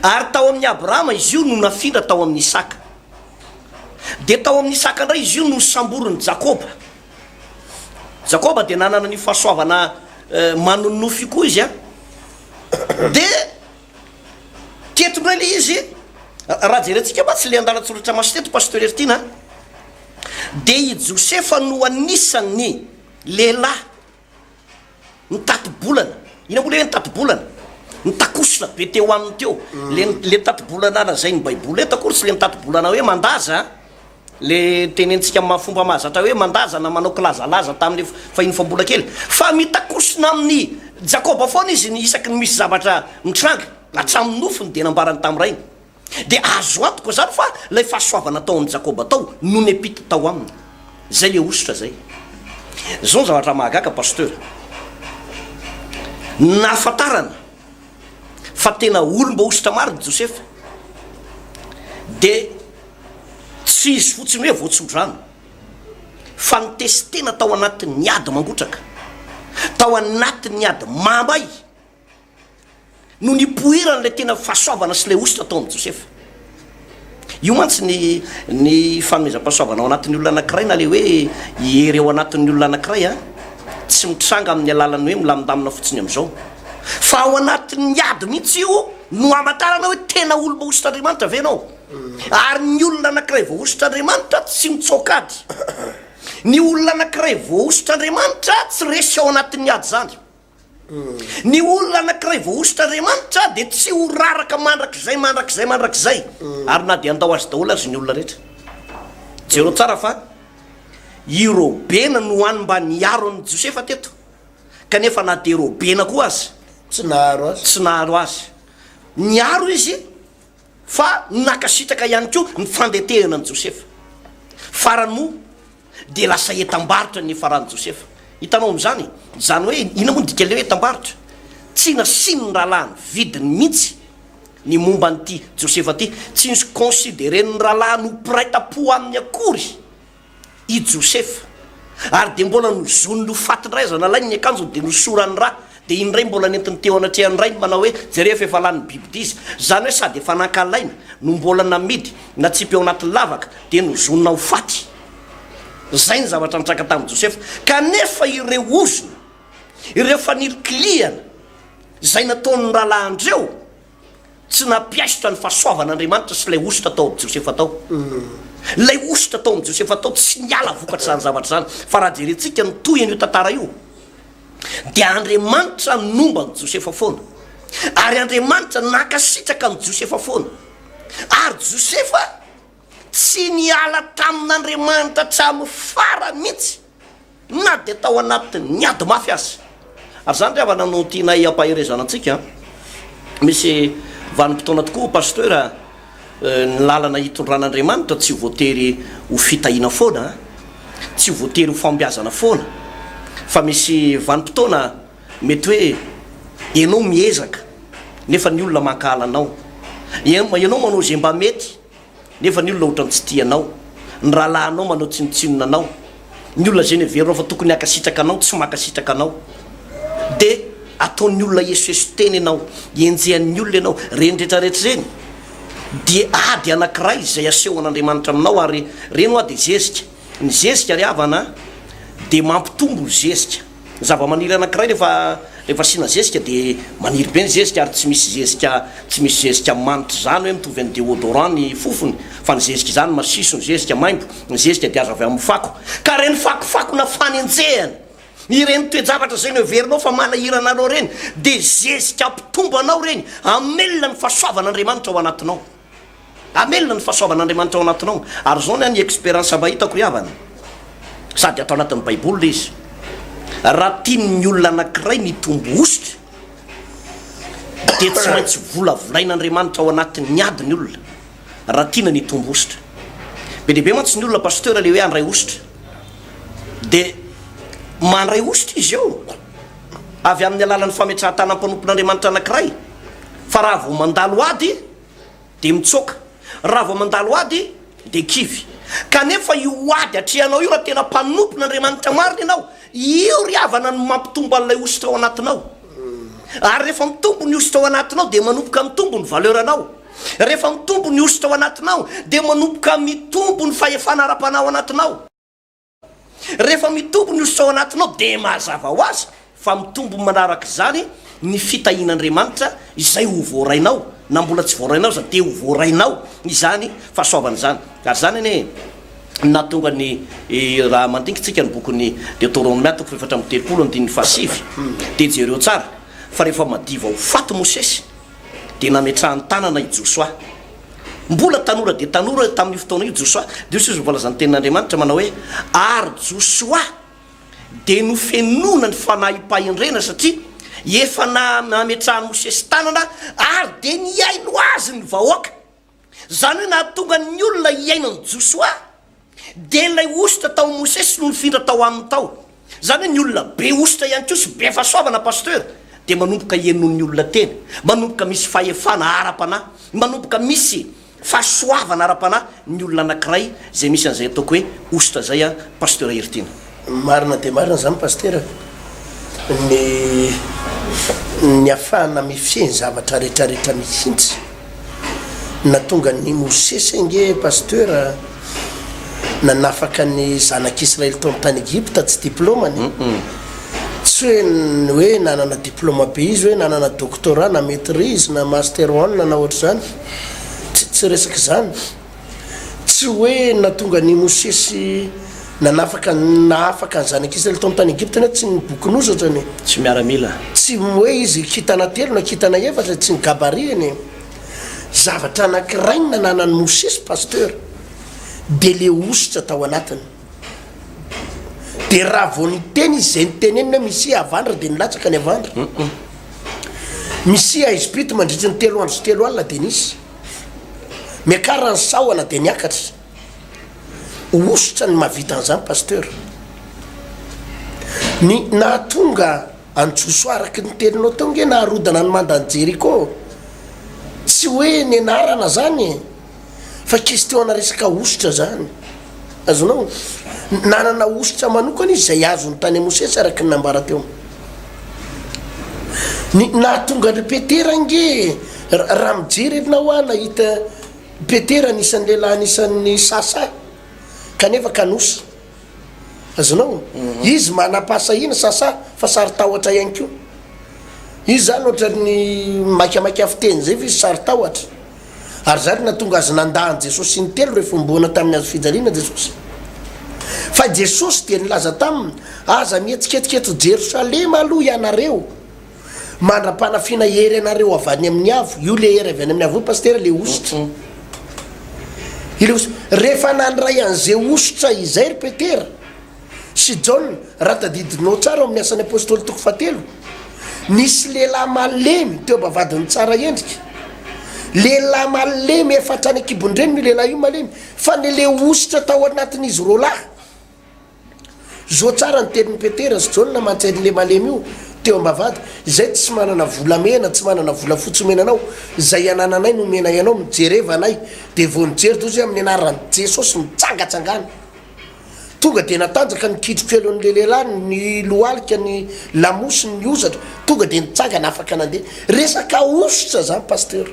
Ary tao amin'ny Abrahama izy io no nafindra tao amin'ny Isaka. Dia tao amin'ny saka indray izy io no samborin'i Jakoba. Jakoba dia nanana an'io fahasoavana manonofy io koa izy a. Dia teto indray ilay izy, raha jerentsika fa tsy ilay andalan-tsoratra maso teto Pasteur Heritiana, dia i Josefa no anisan'ny lehilahy Ny tati-bolana, inona moa le hoe ny tati-bolana? Ny takosona be teo aminy teo, le le tati-bolana lazain'ny baiboly eto akory tsy le tati-bolana hoe mandaza an, le tenenintsika amin'ny maha fomba mahazatra hoe mandaza na manao kilazalaza tamin'ny fahiny fa mbola kely, fa mitakosona amin'i Jakoba foana izy isaky ny misy zavatra mitranga, hatramin'ny nofony dia nambarany tamin'ny rainy. Dia azo antoka izany fa ilay fahasoavana tao amin'i Jakoba tao no nepita tao aminy. Izay ilay hosotra izay. Izao ny zavatra mahagaga Pasteur. Nahafantarana fa tena olom-bahosotra marina i Josefa. Dia tsy izy fotsiny hoe voatsodrano. Fa nitesi-tena tao anatin'ny ady mangotraka. Tao anatin'ny ady mahamay. no nipoiran'ilay tena fahasoavana sy ilay hosotra tao amin'i Josefa. Io mantsy ny ny fanomezam-pahasoavana ao anatin'ny olona anankiray na le hoe hery ao anatin'ny olona anankiray a tsy mitranga amin'ny alalan'ny hoe milamindamina fotsiny amin'izao fa ao anatin'ny ady mihitsy io no hamantarana hoe tena olomba hosotra Andriamanitra ve ianao ary ny olona anankiray voahosotra Andriamanitra tsy mitsaoka ady ny olona anankiray voahosotra Andriamanitra tsy resy ao anatin'ny ady izany Ny olona anankiray voahosotra Andriamanitra dia tsy ho raraka mandrakizay, mandrakizay, mandrakizay, ary na dia handao azy daholo aza ny olona rehetra. Jereo tsara fa i Robena no any mba niaro an'i Josefa teto, kanefa na dia Robena koa aza, tsy naharo azy, niaro izy, Fa nankasitraka ihany koa ny fandentehana an'i Josefa. Farany moa dia lasa entam-barotra ny nifaran'i Josefa. Hitanao amin'izany e! Izany hoe inona moa ny dikan'ilay hoe entam-barotra? Tsy nasian'ny rahalahiny vidiny mihitsy ny momba an'ity Josefa ity. Tsy nisy considerer-n'ny rahalahiny ho mpiray tam-po aminy akory. i Josefa, ary dia mbola nozoniny ho faty indray aza nalainy ny akanjony dia nosorany ra, dia iny indray mbola nentiny teo anatrehan'ny rainy manao hoe, jereo fa efa lany biby dia izy, izany hoe sady efa nankalaina no mbola namidy natsipy ao anaty lavaka dia nozonina ho faty. Izay ny zavatra nitraka tamin'i Josefa. Kanefa ireo ozona, ireo fanilikilihana izay nataon'ny rahalahin-dreo, Tsy nampiaisotra ny fahasoavan'Andriamanitra sy ilay hosotra tao amin'i Josefa tao. Ilay hosotra tao amin'i Josefa tao tsy niala vokatr'izany zavatra izany. Fa raha jerentsika ny tohin'io tantara io, dia Andriamanitra nomba an'i Josefa foana. Ary Andriamanitra nankasitraka an'i Josefa foana. Ary Josefa tsy niala tamin'Andriamanitra hatramin'ny farany mihitsy. na dia tao anatin'ny ady mafy aza. Ary izany ry havana no tianay hampaherezana antsika an! Misy vanim-potoana tokoa ho pasteur a! Ny lalana itondran'Andriamanitra tsy voatery ho fitahiana foana an! Tsy voatery ho fahombiazana foana fa misy vanim-potoana mety hoe ianao miezaka nefa ny olona mankahala anao. Ianao manao izay mba mety. nefa ny olona otrany tsy tia anao, ny rahalahinao manao tsinotsinona anao, ny olona zay neverinao fa tokony haka sitraka anao tsy maka sitraka anao, de ataon'ny olona hiesoeso tena ianao, enjehan'ny olona ianao, reny rehetra rehetra reny dia ady anakiray izay asehon'Andriamanitra aminao ary reny hoa de zezika, ny zezika ry havana dia mampitombo zezika. Ny zavamaniry anankiray rehefa rehefa asiana zezika dia maniry be ny zezika ary tsy misy zezika tsy misy zezika manitra izany hoe mitovy amin'ny déodorant ny fofony fa ny zezika izany masiso, ny zezika maimbo, ny zezika dia azo avy amin'ny fako ka ireny fakofakona fanenjehana ireny toe-javatra izay noheverinao fa manahirana anao ireny dia zezika hampitombo anao ireny, hamelona ny fahasoavan'Andriamanitra ao anatinao. Hamelona ny fahasoavan'Andriamanitra ao anatinao. Ary izao ny ahy ny experience mba hitako ry havana, sady ato anatin'ny baiboly ilay izy, raha tian'ny olona anankiray ny hitombo hosotra dia tsy maintsy volavolain'Andriamanitra ao anatin'ny ady ny olona raha tiana ny hitombo hosotra. Be dia be mantsy ny olona pasteur ilay hoe handray hosotra dia mandray hosotra izy eo. avy amin'ny alalan'ny fametrahan-tanan'ny mpanompon'Andriamanitra anankiray fa raha vao mandalo ady dia mitsoaka, raha vao mandalo ady dia kivy. Kanefa io ady atrehanao io, raha tena mpanompon'Andriamanitra marina ianao, io ry havana no mampitombo an'ilay hosotra ao anatinao. Ary rehefa mitombo ny hosotra ao anatinao dia manomboka mitombo ny valeur-nao. Rehefa mitombo ny hosotra ao anatinao dia manomboka mitombo ny fahefana ara-panahy ao anatinao. Rehefa mitombo ny hosotra ao anatinao dia mazava ho azy fa mitombo manaraka izany ny fitahian'Andriamanitra izay ho voarainao, na mbola tsy voarainao aza dia ho voarainao izany fahasoavana izany. Ary izany anie no nahatonga ny, raha mandinkintsika ny bokin'ny Deoteronomia toko fahefatra amby telopolo andininy fahasivy dia jereo tsara fa rehefa madiva ho faty Mosesy, dia nametrahany tanana i Josoa. Mbola tanora dia tanora io tamin'io fotoana io Josoa, dia hoy Jesosy voalazan'ny tenin'Andriamanitra manao hoe, Ary Josoa dia nofenoina ny fanahimpahendrena satria efa nametrahan'i Mosesy tanana ary dia nihaino azy ny vahoaka. Izany hoe nahatonga ny olona hiaina an'i Josoa dia ilay hosotra tao amin'i Mosesy no nifindra tao aminy tao. Izany hoe ny olona be hosotra ihany koa sy be fahasoavana Pasteur dia manomboka henon'ny olona tena, manomboka misy fahefana ara-panahy, manomboka misy fahasoavana ara-panahy ny olona anankiray izay misy an'izay ataoko hoe hosotra izay an Pasteur Heritiana. Marina dia marina izany Pasitera, ny ny afahana mifehy ny zavatra retraretra mihintsy, na tonga ny Mosesy ange Pasteur nanafaka ny zanak' Israely tao amin' ny tany Egypta tsy diplômany, tsy hoe ny hoe nanana diplôma be izy hoe nanana doctorat na maitrise na master one na ohatr' izany, tsy tsy resak' izany. Tsy hoe nahatonga an' i Mosesy nanafaka nahafaka ny Zanak' Israely tao amin' ny tany Egypta anefa tsy ny bokin'ozatra ny. Tsy miaramila. Tsy hoe izy kintana telo na kintana efatra tsy ny gabarit-ny e! Zavatra anankiray ny nananan'i Mosesy Pasteur dia le hosotra tao anatiny. Dia raha vao niteny izy izay niteneniny hoe Misia havandra dia nilatsaka ny havandra. Misia haizim-pito mandritry ny telo andro sy telo alina dia nisy. Miakara ny sahona dia miakatra ho hosotra ny mahavita an'izany Pasteur. Ny nahatonga an'i Josoa araky ny teninao teo nge naharodana ny mandan'i Jeriko tsy hoe ny anarana zany e! Fa question-na resaka hosotra zany. Azonao? Nanana hosotra manokana izy izay azony tany amin'i Mosesy araka ny nambara teo. Ny nahatonga an-dry Petera ange, raha mijery ianao aho nahita Petera anisan'ny lehilahy anisan'ny sasa kanefa kanosa. Azonao? Mhm. Izy manam-pahasahiana sasa fa saro-tahotra ihany koa. Izy zany ohatran'ny maikamaika fiteny izay fa izy saro-tahotra. Ary izany no nahatonga azy nandà an'i Jesosy intelo rehefa homboana tamin'ny hazo fijaliana Jesosy. Fa Jesosy dia nilaza taminy, Aza mihetsiketsika eto Jerosalema aloha ianareo, mandra-panafiana hery anareo avy any amin'ny avo. Io ilay hery avy any amin'ny avo io, Pasitera, ilay hosotra. Ilay hosotra. Rehefa nandray an'izay hosotra izay ry Petera, sy Jaona, raha tadidinao tsara ao amin'ny Asan'ny Apostoly toko fahatelo, nisy lehilahy malemy teo am-bavahadin'ny tsara endrika. Lehilahy malemy efa hatrany an-kibon-dreniny io lehilahy io, malemy, fa nilehositra tao anatin'izy roalahy. Zo tsara ny tenin'i Petera sy Jaona mantsy an'ilay malemy io teo am-bavahady, Izay tsy manana volamena, tsy manana volafotsy omena anao, izay anananay no omenay anao, mijereva anay. Dia vao nijery Jaona izy hoe amin'ny anaran'i Jesosy, mitsangatsangana. Tonga dia natanjaka ny kitro-keloan'ilay lehilahy nilohalika ny lamosiny ny hozatra, tonga dia nitsangana afaka nandeha. Resaka hosotra izany Pasteur.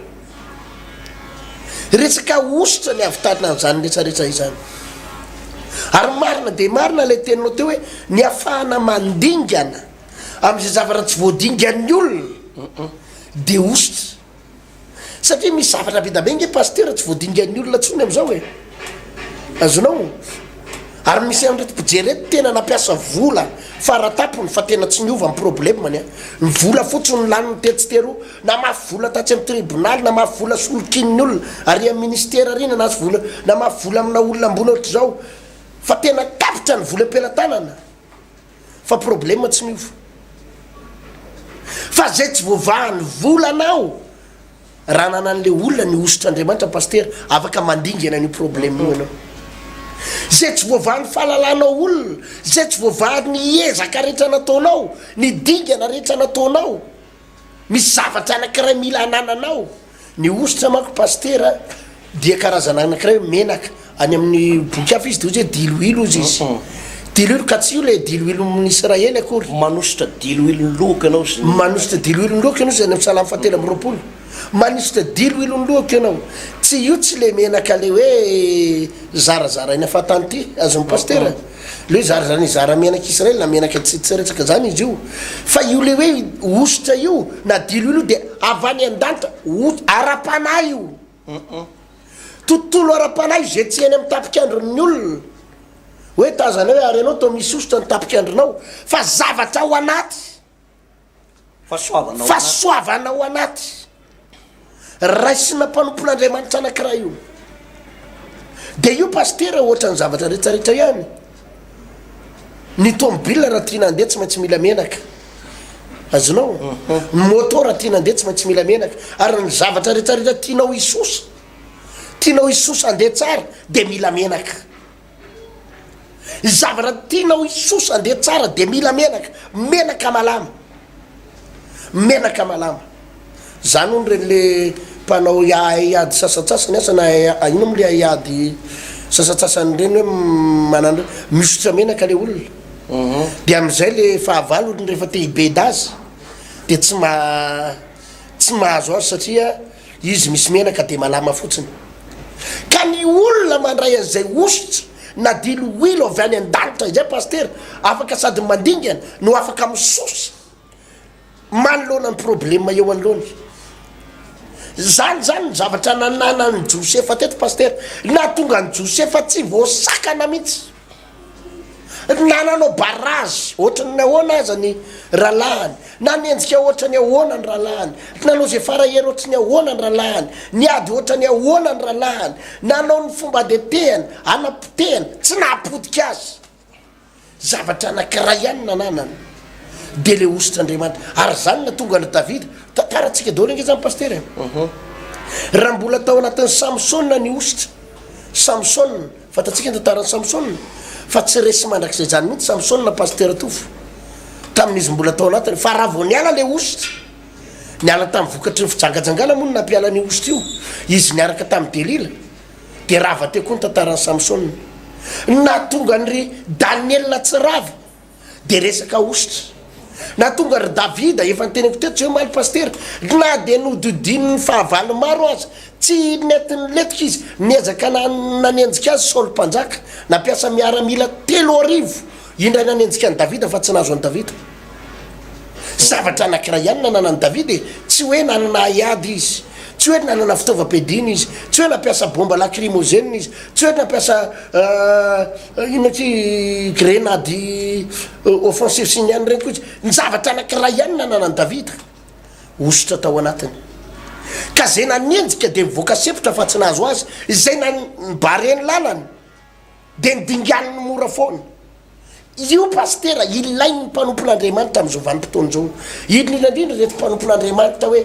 Resaka hosotra ny havitarina an'izany retraretra izany. Ary marina dia marina ilay teninao teo hoe ny hafahana mandingana amin'izay zavatra tsy voadingan'ny olona dia hosotra. Satria misy zavatra be da be nge pasitera tsy voadingan'ny olona tsony amzao e! Azonao? Ary misy anreto mpijery reto tena nampiasa vola fara tapony fa tena tsy niova ny problemany a! Ny vola fotsiny no laniny tetsy teroa, namafy vola tatsy amin'ny tribonaly, namafy vola solokian'ny olona ary amin'ny ministera ary nanasy vola, namafy vola amina olona ambony ohatr'izao fa tena tapitra ny vola am-pelatanana. fa problème tsy miova fa zay tsy voavahan'ny volana aho raha nanan'le olona ny hosotr'Andriamanitra Pasitera afaka mandingana an'io problème io ianao zay tsy voavahan'ny fahalalanao olona zay tsy voavahan'ny ezaka rehetra nataonao ny dingana rehetra nataonao Misy zavatra anakiray mila anananao. Ny hosotra manko Pasitera dia karazana anakiray hoe menaka. Any amin'ny boky hafa izy dia ohatra hoe diloilo hozy izy. Diloilo ka tsy io ilay diloilon'ny Israely akory. Manosotra diloilon'ny lohako ianao sy ny. Manosotra diloilon'ny lohako ianao izy any amin'ny Salamo fahatelo amby roapolo. Manosotra diloilon'ny lohako ianao. Tsy io tsy ilay menaka ilay hoe zarazaraina fahatany ity, azon'i Pasitera. Le zary zany hizara menaky Israel na menaky antsitsiretsaka zany izy io fa io le hoe hosotra io na dilo ilo de avy any andanta hot arapanahy io tontolo arapanahy ze tsy eny am tapikandron'ny olona hoe tazana hoe ary ianao to misy hosotra ny tapikandronao fa zavatra ao anaty Fahasoavana ao anaty. Fahasoavana ao anaty. Raisina mpanompon'Andriamanitra anankiray io. Dia io pasitera ohatran'ny zavatra rehetrarehetra ihany. Ny tômôbila raha tiana handeha tsy maintsy mila menaka. Azonao? Mhm. Ny môtô raha tiana handeha tsy maintsy mila menaka. Ary ny zavatra rehetrarehetra tianao hisosa, tianao hisosa handeha tsara, dia mila menaka. Zavatra tianao hisosa andeha tsara dia mila menaka, menaka malama, menaka malama. Zany hono reny le mpanao haiady sasatsasany asa na ino mo le haiady sasatsasany reny hoe manana misotra menaka le olona mhm. de amizay le fahavalony rehefa te hibeda azy de tsy ma tsy mahazo azy satria Izy misy menaka dia malama fotsiny. Ka ny olona mandray an'izay hosotra na diloilo avy any an-danitra izay Pasitera, afaka sady mandingana no afaka misosa manoloana ny problema eo anoloany. Izany izany ny zavatra nananan'i Josefa teto Pasitera. Nahatonga an'i Josefa tsy voasakana mihitsy. Na nanao barrage ohatran'ny ahoana aza ny rahalahiny, na nienjika ohatran'ny ahoana ny rahalahiny, nanao izay fara hery ohatry ny ahoana ny rahalahiny, niady ohatran'ny ahoana ny rahalahiny, nanao ny fomba adetehany, hanapotehany, tsy nahapotika azy. Zavatra anankiray ihany no nananany, dia ilay hosotr'Andriamanitra. Ary izany no tonga an'i Davida. Tantarantsika daholo ange izany, Pasitera e. Raha mbola tao anatin'i Samsona ny hosotra, Samsona. Fantatsika ny tantaran'i Samsona fa tsy resy mandrakizay zany mihitsy Samsona Pasteur Tofo tamin'izy mbola tao anatiny fa raha vao niala le ositra niala tamin'ny vokatry ny fijangajangana moa no nampiala an'io ositra io izy niaraka tamin'i Delila dia rava teo koa ny tantaran'i Samsona nahatonga an'ry Daniela tsy rava dia resaka hosotra. Nahatonga ry Davida, efa noteneniko teto tsy hoe omaly Pasitera, na dia nohodidinin'ny fahavalo maro aza, tsy nety nilentika izy, niezaka nanenjika azy Saoly Mpanjaka, nampiasa miaramila telo arivo indray nanenjika an'i Davida fa tsy nahazo an'i Davida. Zavatra anankiray ihany nananan'i Davida e, tsy hoe nanana haiady izy, tsy hoe nanana fitaovam-piadiana izy, tsy hoe nampiasa bomba lakrimozena izy, tsy hoe nampiasa Inona ity grenady offensive sy ny anona ireny koa tsy ny zavatra anankiray ihany nananan'i Davida hosotra tao anatiny. Ka izay nanenjika dia nivoaka sepotra fa tsy nahazo azy, izay nan nibare ny lalany dia nodinganiny mora foana. Io Pasitera ilain'ny mpanompon'Andriamanitra amin'izao vanim-potoana izao. Indrindra indrindra ireto mpanompon'Andriamanitra hoe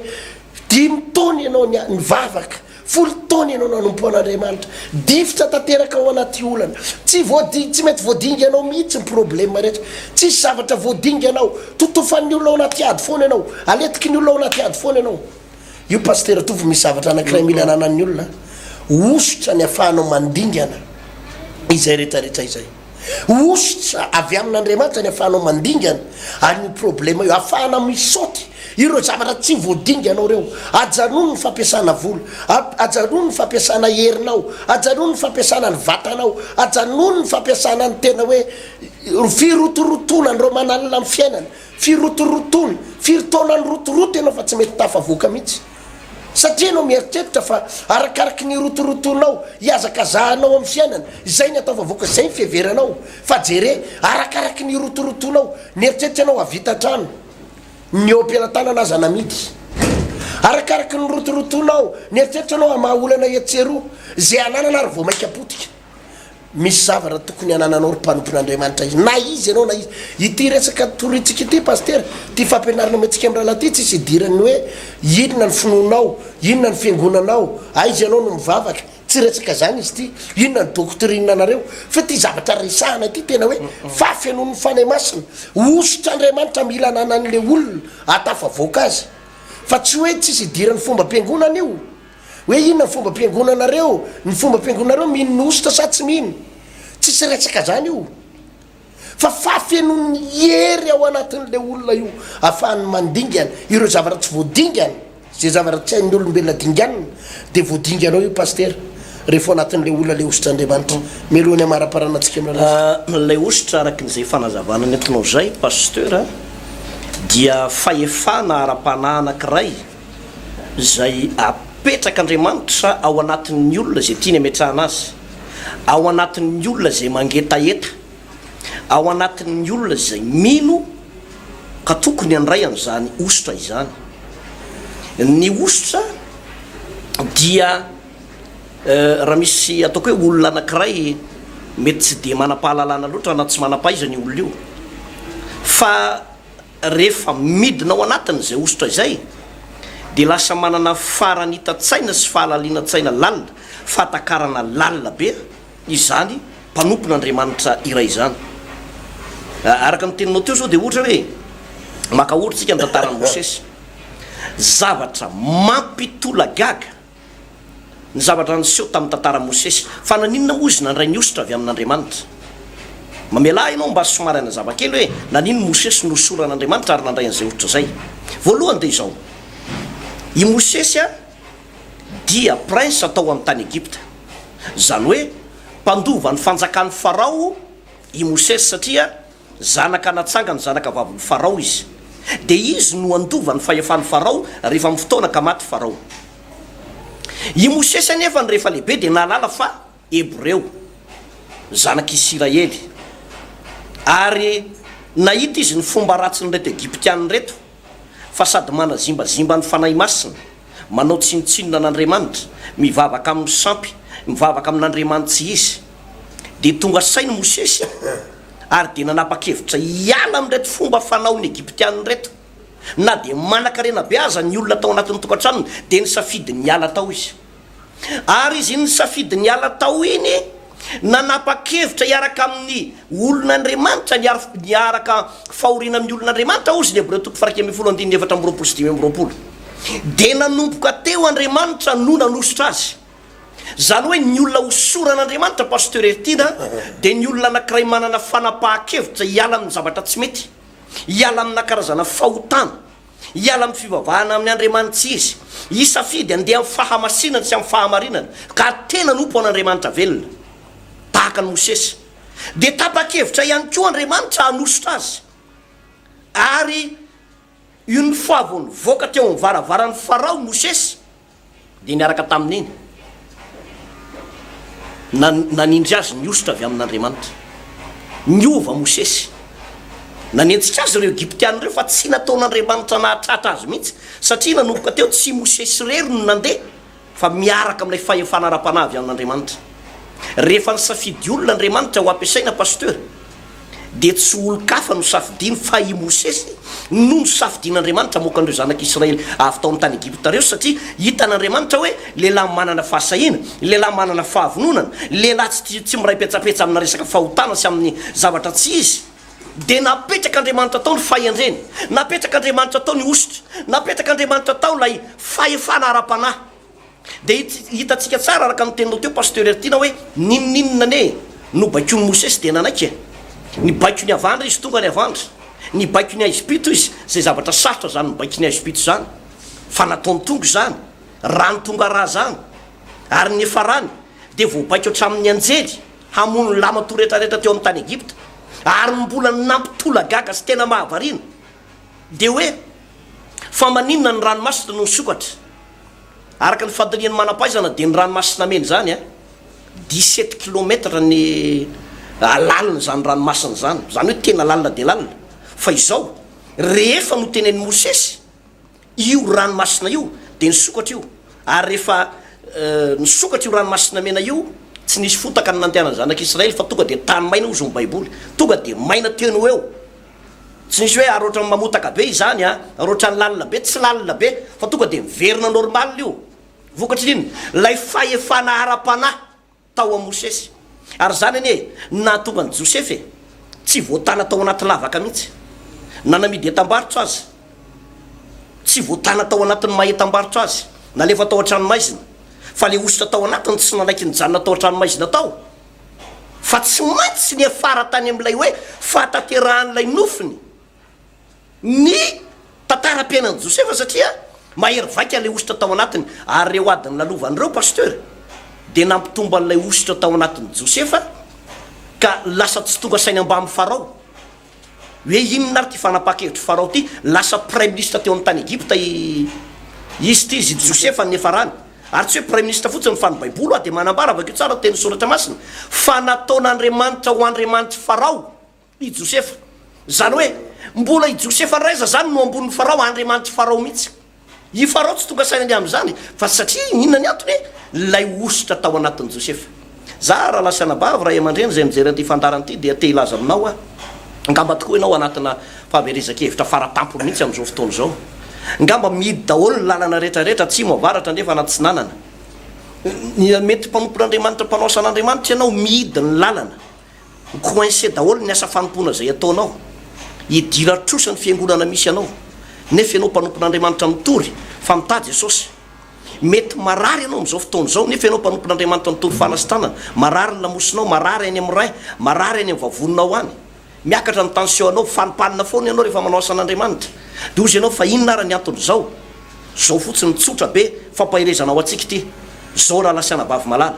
dimy taona ianao ny nivavaka Folo taona ianao nanompo an'Andriamanitra. Difotra tanteraka ao anaty olana. Tsy voading, tsy mety voadinganao mihitsy ny problema rehetra. Tsisy zavatra voadinganao. Totofan'ny olona ao anaty ady foana ianao. Aletiky ny olona ao anaty ady foana ianao. Io Pasitera Tovo misy zavatra anankiray mila ananan'ny olona, hosotra ny afahanao mandingana izay rehetra rehetra izay. Hosotra avy amin'Andriamanitra ny ahafahanao mandingana, ary io problema io, ahafahana mi-saute ireo zavatra tsy voadinganao ireo. Ajanony ny fampiasana vola, ajanony ny fampiasana herinao, ajanony ny fampiasana ny vatanao, ajanony ny fampiasana ny tena hoe firotorotoana an'ireo manalina ny fiainana, firotorotoana, firy taona nirotoroto ianao fa tsy mety tafavoaka mihitsy. Satria ianao mieritreritra fa arakaraky ny rotorotonao ihazakazahanao amin'ny fiainana izay ny atao vavoaka izay ny fiheveranao fa jere arakaraky ny rotorotonao mieritreritra ianao havita hatrany ny eo am-pelatanana aza namidy arakaraky ny rotorotonao mieritreritra ianao hamaha olana etsy sy eroa izay ananana ary vao maika potika Misy zavatra tokony hanananao ry mpanompon'Andriamanitra izy, na iza ianao na iza. Ity resaka torintsika ity Pasitera, ity fampianarana omentsika amin'ny rahalahy ity tsy hisy idiran'ny hoe inona ny finoanao, inona ny fiangonanao, aiza ianao no mivavaka, tsy resaka izany izy ity, inona ny doctrine nareo, fa ity zavatra resahana ity tena hoe fahafenoan'ny Fanahy Masina, hosotr'Andriamanitra mila ananan'ilay olona ahatafavoaka azy, fa tsy hoe tsy hisy idiran'ny fombam-piangonana io. Hoe inona ny fombam-piangonanareo? Ny fombam-piangonanareo mino ny hosotra sa tsy mino? Tsisy resaka zany io. Fa fahafenoan'ny hery ao anatin'ilay olona io afahany mandingana ireo zavatra tsy voadingana, zay zavatra tsy hain'ny olombelona dinganina dia voadinganao io Pastera rehefa ao anatin'ilay olona ilay hosotr'Andriamanitra. Melohany hamaraparana antsika amin'ilay resaka. Ilay hosotra arakin'izay fanazavana nentinao izay Pasteur dia fahefana ara-panahy anankiray. izay apetrak'Andriamanitra ao anatin'ny olona izay tiany ametrahana azy, ao anatin'ny olona izay mangetaheta, ao anatin'ny olona izay mino ka tokony handray an'izany hosotra izany. Ny hosotra dia raha misy ataoko hoe olona anankiray mety tsy dia manam-pahalalana loatra na tsy manam-pahaizana io olona io fa Rehefa midina ao anatin' izay hosotra izay dia lasa manana faranitan-tsaina sy fahalalinan-tsaina lalina, fahatakarana lalina be izany mpanompon' Andriamanitra iray izany. Araka ny teninao teo izao dia ohatra hoe, maka ohatra isika ny tantaran'i Mosesy. Zavatra mampitolagaga. ny zavatra niseho tamin'ny tantaran'i Mosesy. Fa naninona moa izy nandray ny hosotra avy amin'Andriamanitra? Mamelà ahy ianao mba somary hanazava kely hoe naninona i Mosesy no hosoran'Andriamanitra ary nandray an'izay hosotra izay. Voalohany dia izao, i Mosesy dia prinsa tao amin'ny tany Egypta. Izany hoe mpandova ny fanjakan'i Farao i Mosesy satria Zanaka natsanga ny zanaka vavin'i Farao izy, dia izy no handova ny fahefan'i Farao rehefa amin'ny fotoana ka maty Farao. I Mosesy anefa no rehefa lehibe dia nahalala fa Hebreo, zanak'i Isiraely, ary nahita izy ny fomba ratsin'ireto Egyptiana ireto. fa sady manazimbazimba ny Fanahy Masina, manao tsinontsinona an'Andriamanitra, mivavaka amin'ny sampy, mivavaka amin'Andriamanitsy izy. Dia tonga saina Mosesy ary dia nanapa-kevitra hiala amin'ireto fomba fanaon'ny Egyptiana ireto. Na dia manankarena be aza ny olona tao anatin'ny tokantranony, dia nisafidy ny hiala tao izy. Ary izy nisafidy ny hiala tao iny, nanapa-kevitra hiaraka amin'ny olon'Andriamanitra, niarf- niaraka fahoriana amin'ny olon'Andriamanitra, hozy ny Hebreo toko faha-iraika ambin'ny folo andininy efatra amby roapolo sy dimy amby roapolo. Dia nanomboka teo Andriamanitra no nanosotra azy. Izany hoe ny olona hosoran'Andriamanitra, Pasteur Hertina, dia ny olona anankiray manana fanapahan-kevitra hiala amin'ny zavatra tsy mety, hiala amina karazana fahotana. Hiala amin'ny fivavahana amin' Andriamanitra izy, hisafidy handeha amin'ny fahamasinana sy amin'ny fahamarinana, ka hady tena hanompo an' Andriamanitra velona, tahaka an'i Mosesy. Dia tapa-kevitra ihany koa Andriamanitra hanosotra azy. Ary une fois vao nivoaka teo amin'ny varavaran'i Farao Mosesy, dia niaraka tamin'iny, na nanindry azy ny hosotra avy amin'Andriamanitra. Niova Mosesy. Nanenjika azy ireo Egyptiana ireo fa tsy nataon'Andriamanitra nahatratra azy mihitsy, satria nanomboka teo tsy Mosesy irery no nandeha, fa miaraka amin'ilay fahefana ara-panahy avy amin'Andriamanitra. Rehefa nisafidy olona Andriamanitra ho ampiasaina, Pasteur, dia tsy olon-kafa nosafidiany fa i Mosesy no nosafidian'Andriamanitra hamoaka an'ireo zanak'i Israely avy tao amin'ny tany Egypta ireo, satria hitan'Andriamanitra hoe lehilahy manana fahasahiana, lehilahy manana fahavononana, lehilahy tsy tia, tsy miray petsapetsa amina resaka fahotana sy amin'ny zavatra tsy izy. Dia napetrak'Andriamanitra tao ny fahendreny, napetrak'Andriamanitra tao ny hosotra, napetrak'Andriamanitra tao ilay fahefana ara-panahy. Dia hitantsika tsara araka ny teninao teo Pasteur Hertiana hoe ninoninona anie no baikoin'i Mosesy dia nanaiky e? Ny baiko ny avandra izy tonga any avandra. Ny baiko ny aizim-pito izy, izay zavatra sarotra izany mibaiko ny aizim-pito izany fa nataony tonga izany, rano tonga rà izany. Ary ny farany dia voabaiko hatramin'ny anjely hamono ny laman-toa rehetrarehetra teo amin'ny tany Egypta. Ary ny mbola nampitolagaga sy tena mahavariana dia hoe fa maninona ny ranomasina no nisokatra? Araka ny fandinihan'ny manam-pahaizana dia ny Ranomasina Mena izany dix sept kilômetatra ny lalin'izany ranomasina izany, izany hoe tena lalina dia lalina. Fa izao, rehefa notenenin'i Mosesy io ranomasina io dia nisokatra io, ary rehefa nisokatra io Ranomasina Mena io, tsy nisy fotaka ny nandehanan'ny zanak'Israely fa tonga dia tany maina hozy ny Baiboly, tonga dia maina teny ho eo. Tsy misy hoe ary ohatrany mamotaka be izany a, ary ohatrany lalina be, tsy lalina be fa tonga dia miverina normal io. Vokatry ny inona? Ilay fahefana ara-panahy tao amin'i Mosesy. Ary izany anie no nahatonga an'i Josefa e, tsy voatàna tao anaty lavaka mihitsy, na namidy entam-barotra aza, tsy voatàna tao anatin'ny maha entam-barotra azy, nalefa tao an-tranomaizina, fa ilay hosotra tao anatiny tsy nanaiky nijanona tao an-tranomaizina tao. fa tsy maintsy niafara tany amin'ilay hoe fahatanterahan'ilay nofiny ny tantaram-piainan'i Josefa satria mahery vaika ilay hosotra tao anatiny ary ireo ady nilalovany ireo Pasteur dia nampitombo an'ilay hosotra tao anatin'i Josefa ka lasa tsy tonga saina mbamin'i Farao Hoe inona ary ity fanapahan-kevitry Farao ity? Lasa praiminisitra teo amin'ny tany Egypta i izy ity, izy ity Josefa ny niafarany. Ary tsy hoe praiminisitra fotsiny fa ny Baiboly ho'a dia manambara, vakio tsara ny tenin'ny Soratra Masina, fa nataon'Andriamanitra ho andriamanitr'i Farao i Josefa. Izany hoe mbola i Josefa indray aza izany no ambonin'i Farao, andriamanitr'i Farao mihitsy. I Farao tsy tonga saina indray amin'izany fa satria inona ny antony? Ilay hosotra tao anatin'i Josefa. Zah rahalahy sy anabavy, ray aman-dreny izay mijery an'ity fandaharana ity dia te hilaza aminao aho, angamba tokoa ianao anatina fahaverezan-kevitra fara-tampony mihitsy amin'izao fotoana izao. Angamba mihidy daholo ny lalana rehetra rehetra atsimo, avaratra, andrefa, an'atsinanana. Mety mpanompon'Andriamanitra, mpanao asan'Andriamanitra ianao, mihidy ny lalana. Ho coincé daholo ny asa fanompoana izay ataonao. Hidira trosa ny fiangonana misy anao. Nefa ianao mpanompon'Andriamanitra mitory fa mitady Jesosy. Mety marary ianao amin'izao fotoana izao nefa ianao mpanompon'Andriamanitra mitory fana sy tanana. Marary ny lamosinao, marary any amin'ny rein, marary any amin'ny vavoninao any. Miakatra ny tension-nao. Fanimpanina foana ianao rehefa manao asan'Andriamanitra. Dia hoy ianao fa inona ary ny anton'izao? Izao fotsiny, tsotra be, fampaherezana ho antsika ity. Izao raha lasianabavy malala.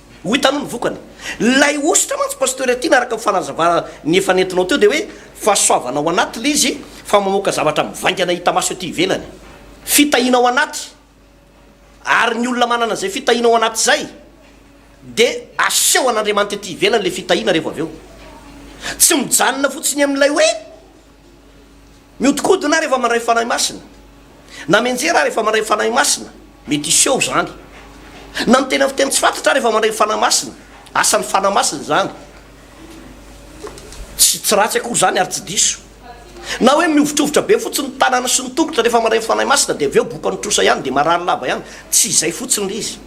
Ho hitanao ny vokany. Ilay hosotra mantsy Pasteur Tiana araka ny fanazavana ny efa nentinao teo dia hoe fahasoavana ao anaty ilay izy fa mamoaka zavatra mivaingana hita maso ety ivelany. Fitahiana ao anaty. Ary ny olona manana izay fitahiana ao anaty izay dia aseho an'Andriamanitra ety ivelany ilay fitahiana rehefa avy eo. Tsy mijanona fotsiny amin'ilay hoe Mihodinkodina aho rehefa mandray Fanahy Masina, na mianjera aho rehefa mandray Fanahy Masina, mety hiseho izany. Na miteny amin'ny fiteny tsy fantatro aho rehefa mandray ny Fanahy Masina, asan'ny Fanahy Masina izany. Tsy tsy ratsy akory izany ary tsy diso. Na hoe mihovitrovitra be fotsiny ny tanana sy ny tongotra rehefa mandray ny Fanahy Masina dia avy eo boka ny trosa ihany dia marary lava ihany, tsy izay fotsiny ilay izy.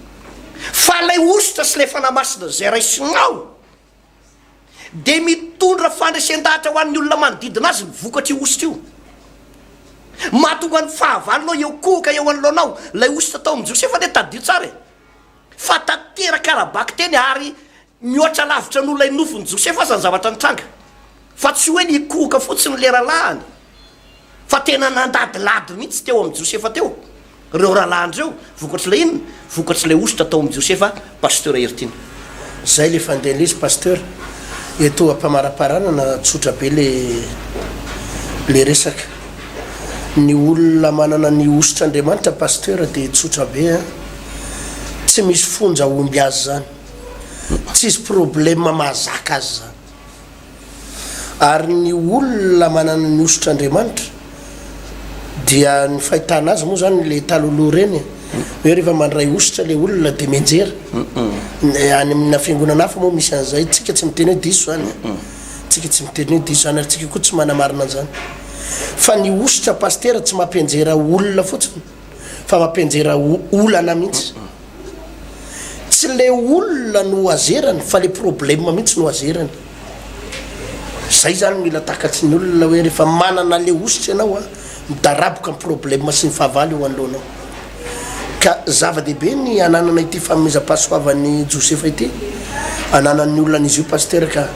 Fa ilay hosotra sy ilay Fanahy Masina izay raisinao dia mitondra fandresen-dahatra ho an'ny olona manodidina azy ny vokatrio hosotra io. Mahatonga ny fahavalonao hiankohoka eo anoloanao ilay hosotra tao amin'i Josefa anie tadidio tsara e! Fa tanteraka ara-bakiteny ary mihoatra lavitra noho ilay nofin'i Josefa aza ny zavatra nitranga. Fa tsy hoe nikohoka fotsiny ny leralahany fa tena nandadilady mihitsy teo amin'i Josefa teo ireo rahalahiny ireo, vokatr'ilay inona? Vokatr'ilay hosotra tao amin'i Josefa Pasteur Heritiana. Zay le fandehan'izy Pasteur. Eto ampamaraparanana tsotra be le le resaka. Ny olona manana ny hosotr'Andriamanitra Pasteur de tsotra be an. Tsy misy fonja homby azy zany. Tsisy problème mahazaka azy zany. Ary ny olona manana ny hosotra Andriamanitra dia ny fahitana azy moa zany le taloloha reny e. Hoe rehefa mandray hosotra le olona de mianjera. Ny any amina fiangonana hafa moa misy an'izay. Tsika tsy miteny hoe diso zany e. Tsika tsy miteny hoe diso zany ary tsika koa tsy manamarina an'izany. Fa ny hosotra Pasitera tsy mampianjera olona fotsiny. fa mampianjera olana mihitsy. Tsy le olona no azerany fa le problème mihitsy no azerany. Zay zany mila takatry ny olona hoe rehefa manana le hosotry ianao a, midaraboka ny problème sy ny fahavalo eo anoloanao. Ka zava-dehibe ny ananana ity fanomezam-pahasoavan'i Josefa ity ananan'ny olona an'izy io Pasitera ka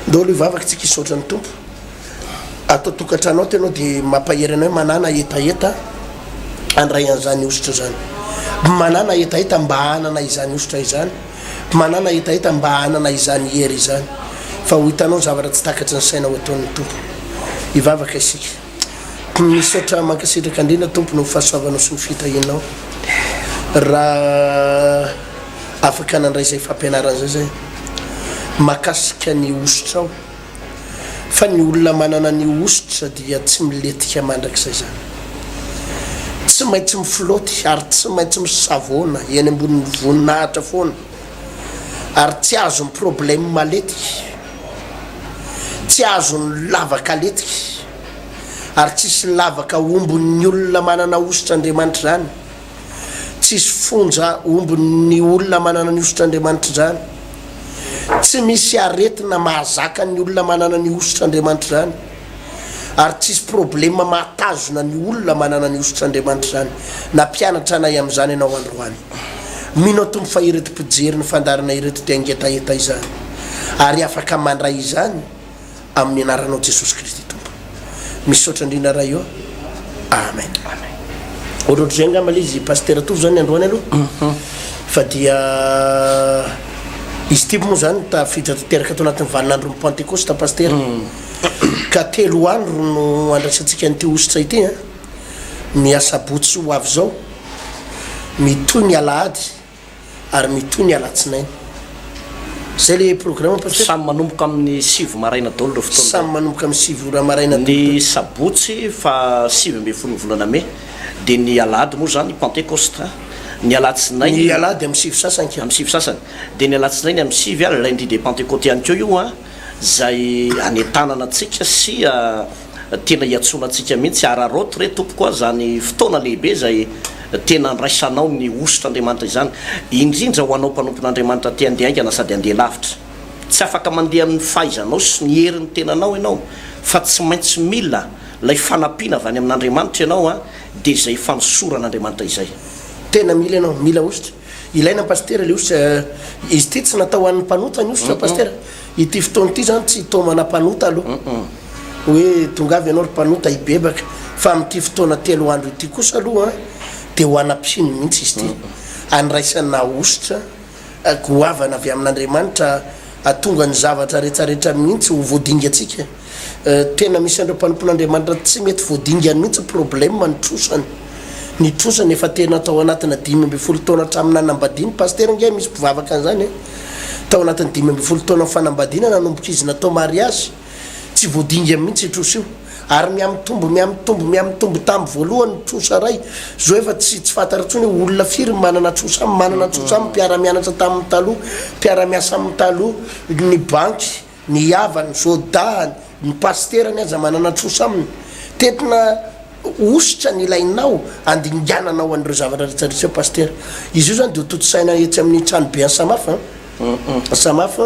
ndao aloha hivavaka tsika hisaotra ny Tompo. ato an-tokantrano ato ianao dia mampahery anao hoe manàna hetaheta handray an'izany hosotra izany. Manàna hetaheta mba hanana izany hosotra izany. Manàna hetaheta mba hanana izany hery izany. Fa ho hitanao ny zavatra tsy takatry ny saina ho ataon'ny Tompo. Hivavaka isika. Misaotra mankasitraka indrindra Tompo noho ny fahasoavanao sy ny fitahianao. Raha afaka nandray izay fampianarana izay zay. Makasika ny hosotrao. fa ny olona manana ny hosotra dia tsy milentika mandrakizay izany. Tsy maintsy mifloaty ary tsy maintsy misavoana eny ambonin'ny voninahitra foana ary tsy azon'ny problème maletika, tsy azon'ny lavaka letika ary tsisy lavaka ombon'ny olona manana hosotra Andriamanitra izany. Tsisy fonja omby ny olona manana ny hosotr'Andriamanitra izany. Tsy misy aretina mahazaka ny olona manana ny hosotr'Andriamanitra izany. Ary tsisy problema mahatazona ny olona manana ny hosotr'Andriamanitra izany. Nampianatra anay amin'izany ianao androany. Mino aho Tompo fa ireto mpijery ny fandaharana ireto dia ngetaheta izany. Ary afaka mandray izany. amin'ny anaranao Jesosy Kristy Tompo. Misaotra indrindra Ray ô. Amen. Ohatrohatr'izay angamba le izy Pasteur Tovo zany androany aloha. Mhm. Fa dia izy tibo moa zany tafiditra tanteraka ato anatin'ny vaninandron'ny Pentecoste Pasteur. Mhm. Ka telo andro no andraisantsika an'ity hosotra ity a. Ny asabotsy ho avy zao, mitohy ny alahady ary mitohy ny alatsinainy. Zay le programme Pasteur? Samy manomboka amin'ny sivy maraina daholo ireo fotoana ireo. Samy manomboka amin'ny sivy ora maraina daholo. Ny sabotsy faha sivy ambin'ny folon'ny volana mey, dia ny alahady moa izany pentecost a! ny alatsinainy. Ny alahady amin'ny sivy sasany ka. Amin'ny sivy sasany. Dia ny alatsinainy amin'ny sivy a, lundi de pentecote ihany koa io a, izay anentanana antsika sy. tena iantsoana antsika mihitsy, araraoty re Tompoko aho izany fotoana lehibe izay tena andraisanao ny hosotr'Andriamanitra izany, indrindra ho anao mpanompon'Andriamanitra te handeha haingana sady handeha lavitra. Tsy afaka mandeha amin'ny fahaizanao sy ny herin'ny tenanao ianao fa tsy maintsy mila ilay fanampiana avy any amin'Andriamanitra ianao dia izay fanosoran'Andriamanitra izay. Tena mila ianao, mila hosotra. Ilaina Pasitera le osy eh. Izy ity tsy natao ho an'ny mpanota ny osy Pasitera. Ity fotoana ity izany tsy taomana mpanota aloha. Hoe tongava ianao ry mpanota hibebaka. Fa amin'ity fotoana telo andro ity kosa aloha dia ho ana mpino mihitsy izy ity. Andraisana hosotra goavana avy amin'Andriamanitra hahatonga ny zavatra rehetra rehetra mihitsy ho voadingantsika. Tena misy an'ireo mpanompon'Andriamanitra tsy mety voadingany mihitsy problème ny trosany. Ny trosany efa tena tao anatina dimy ambin'ny folo taona hatramin'ny nanambadiany. Pasitera ange misy mpivavaka an'izany e. Tao anatin'ny dimy ambin'ny folo taona fanambadiana nanomboka izy natao mariazy. Tsy voadingany mihitsy io trosa io. Ary mihamitombo, mihamitombo, mihamitombo tamin'ny voalohany ny trosa iray. Izao efa tsy tsy fantatra intsony hoe olona firy no manana trosa aminy, manana trosa aminy, mpiara-mianatra taminy taloha, mpiara-miasa aminy taloha, ny banky. Ny havany, sôdahany, ny pasiterany aza manana trosa aminy. Tentina hosotra ny ilainao handingananao an'ireo zavatra rehetra reseo pasitera. Izy io izany dia hotontosaina etsy amin'ny tranobe an'i Samaf an. Samaf,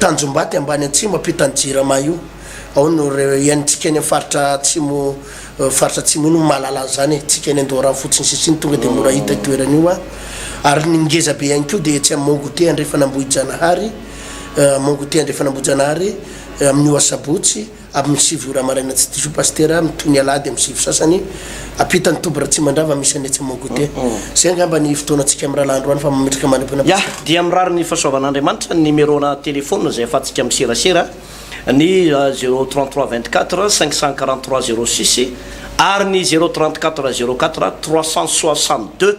Tanjombato ambany atsimo ampitan'ny Jirama io. Ao no iaintsika any amin'ny faritra atsimo, faritra atsimo io no mahalala an'izany e. Tsika any Andoharano fotsiny sisa iny tonga dia mora hita io toerana io an. Ary ny ngezabe ihany koa dia etsy amin'ny Mont Goûter andrefan'Ambohijanahary. Mongote Andrefan'Ambojanahary amin'io asabotsy amin'ny sivy ora maraina tsy diso Pasitera mitohy ny alahady amin'ny sivy sasany ampitan'ny toby Ratsimandrava misy an'i Etsy Mongote. Izay angamba ny fotoanantsika amin'ny rahalahy androany fa mametraka mandra-pinoana Yah, Pasitera. Dia mirary ny fahasoavan'Andriamanitra ny nimero-na telephone izay ahafahantsika miserasera ny zéro trente trois vingt quatre cinq cent quarante trois zéro six ary ny zéro trente quatre zéro quatre trois cent soixante deux.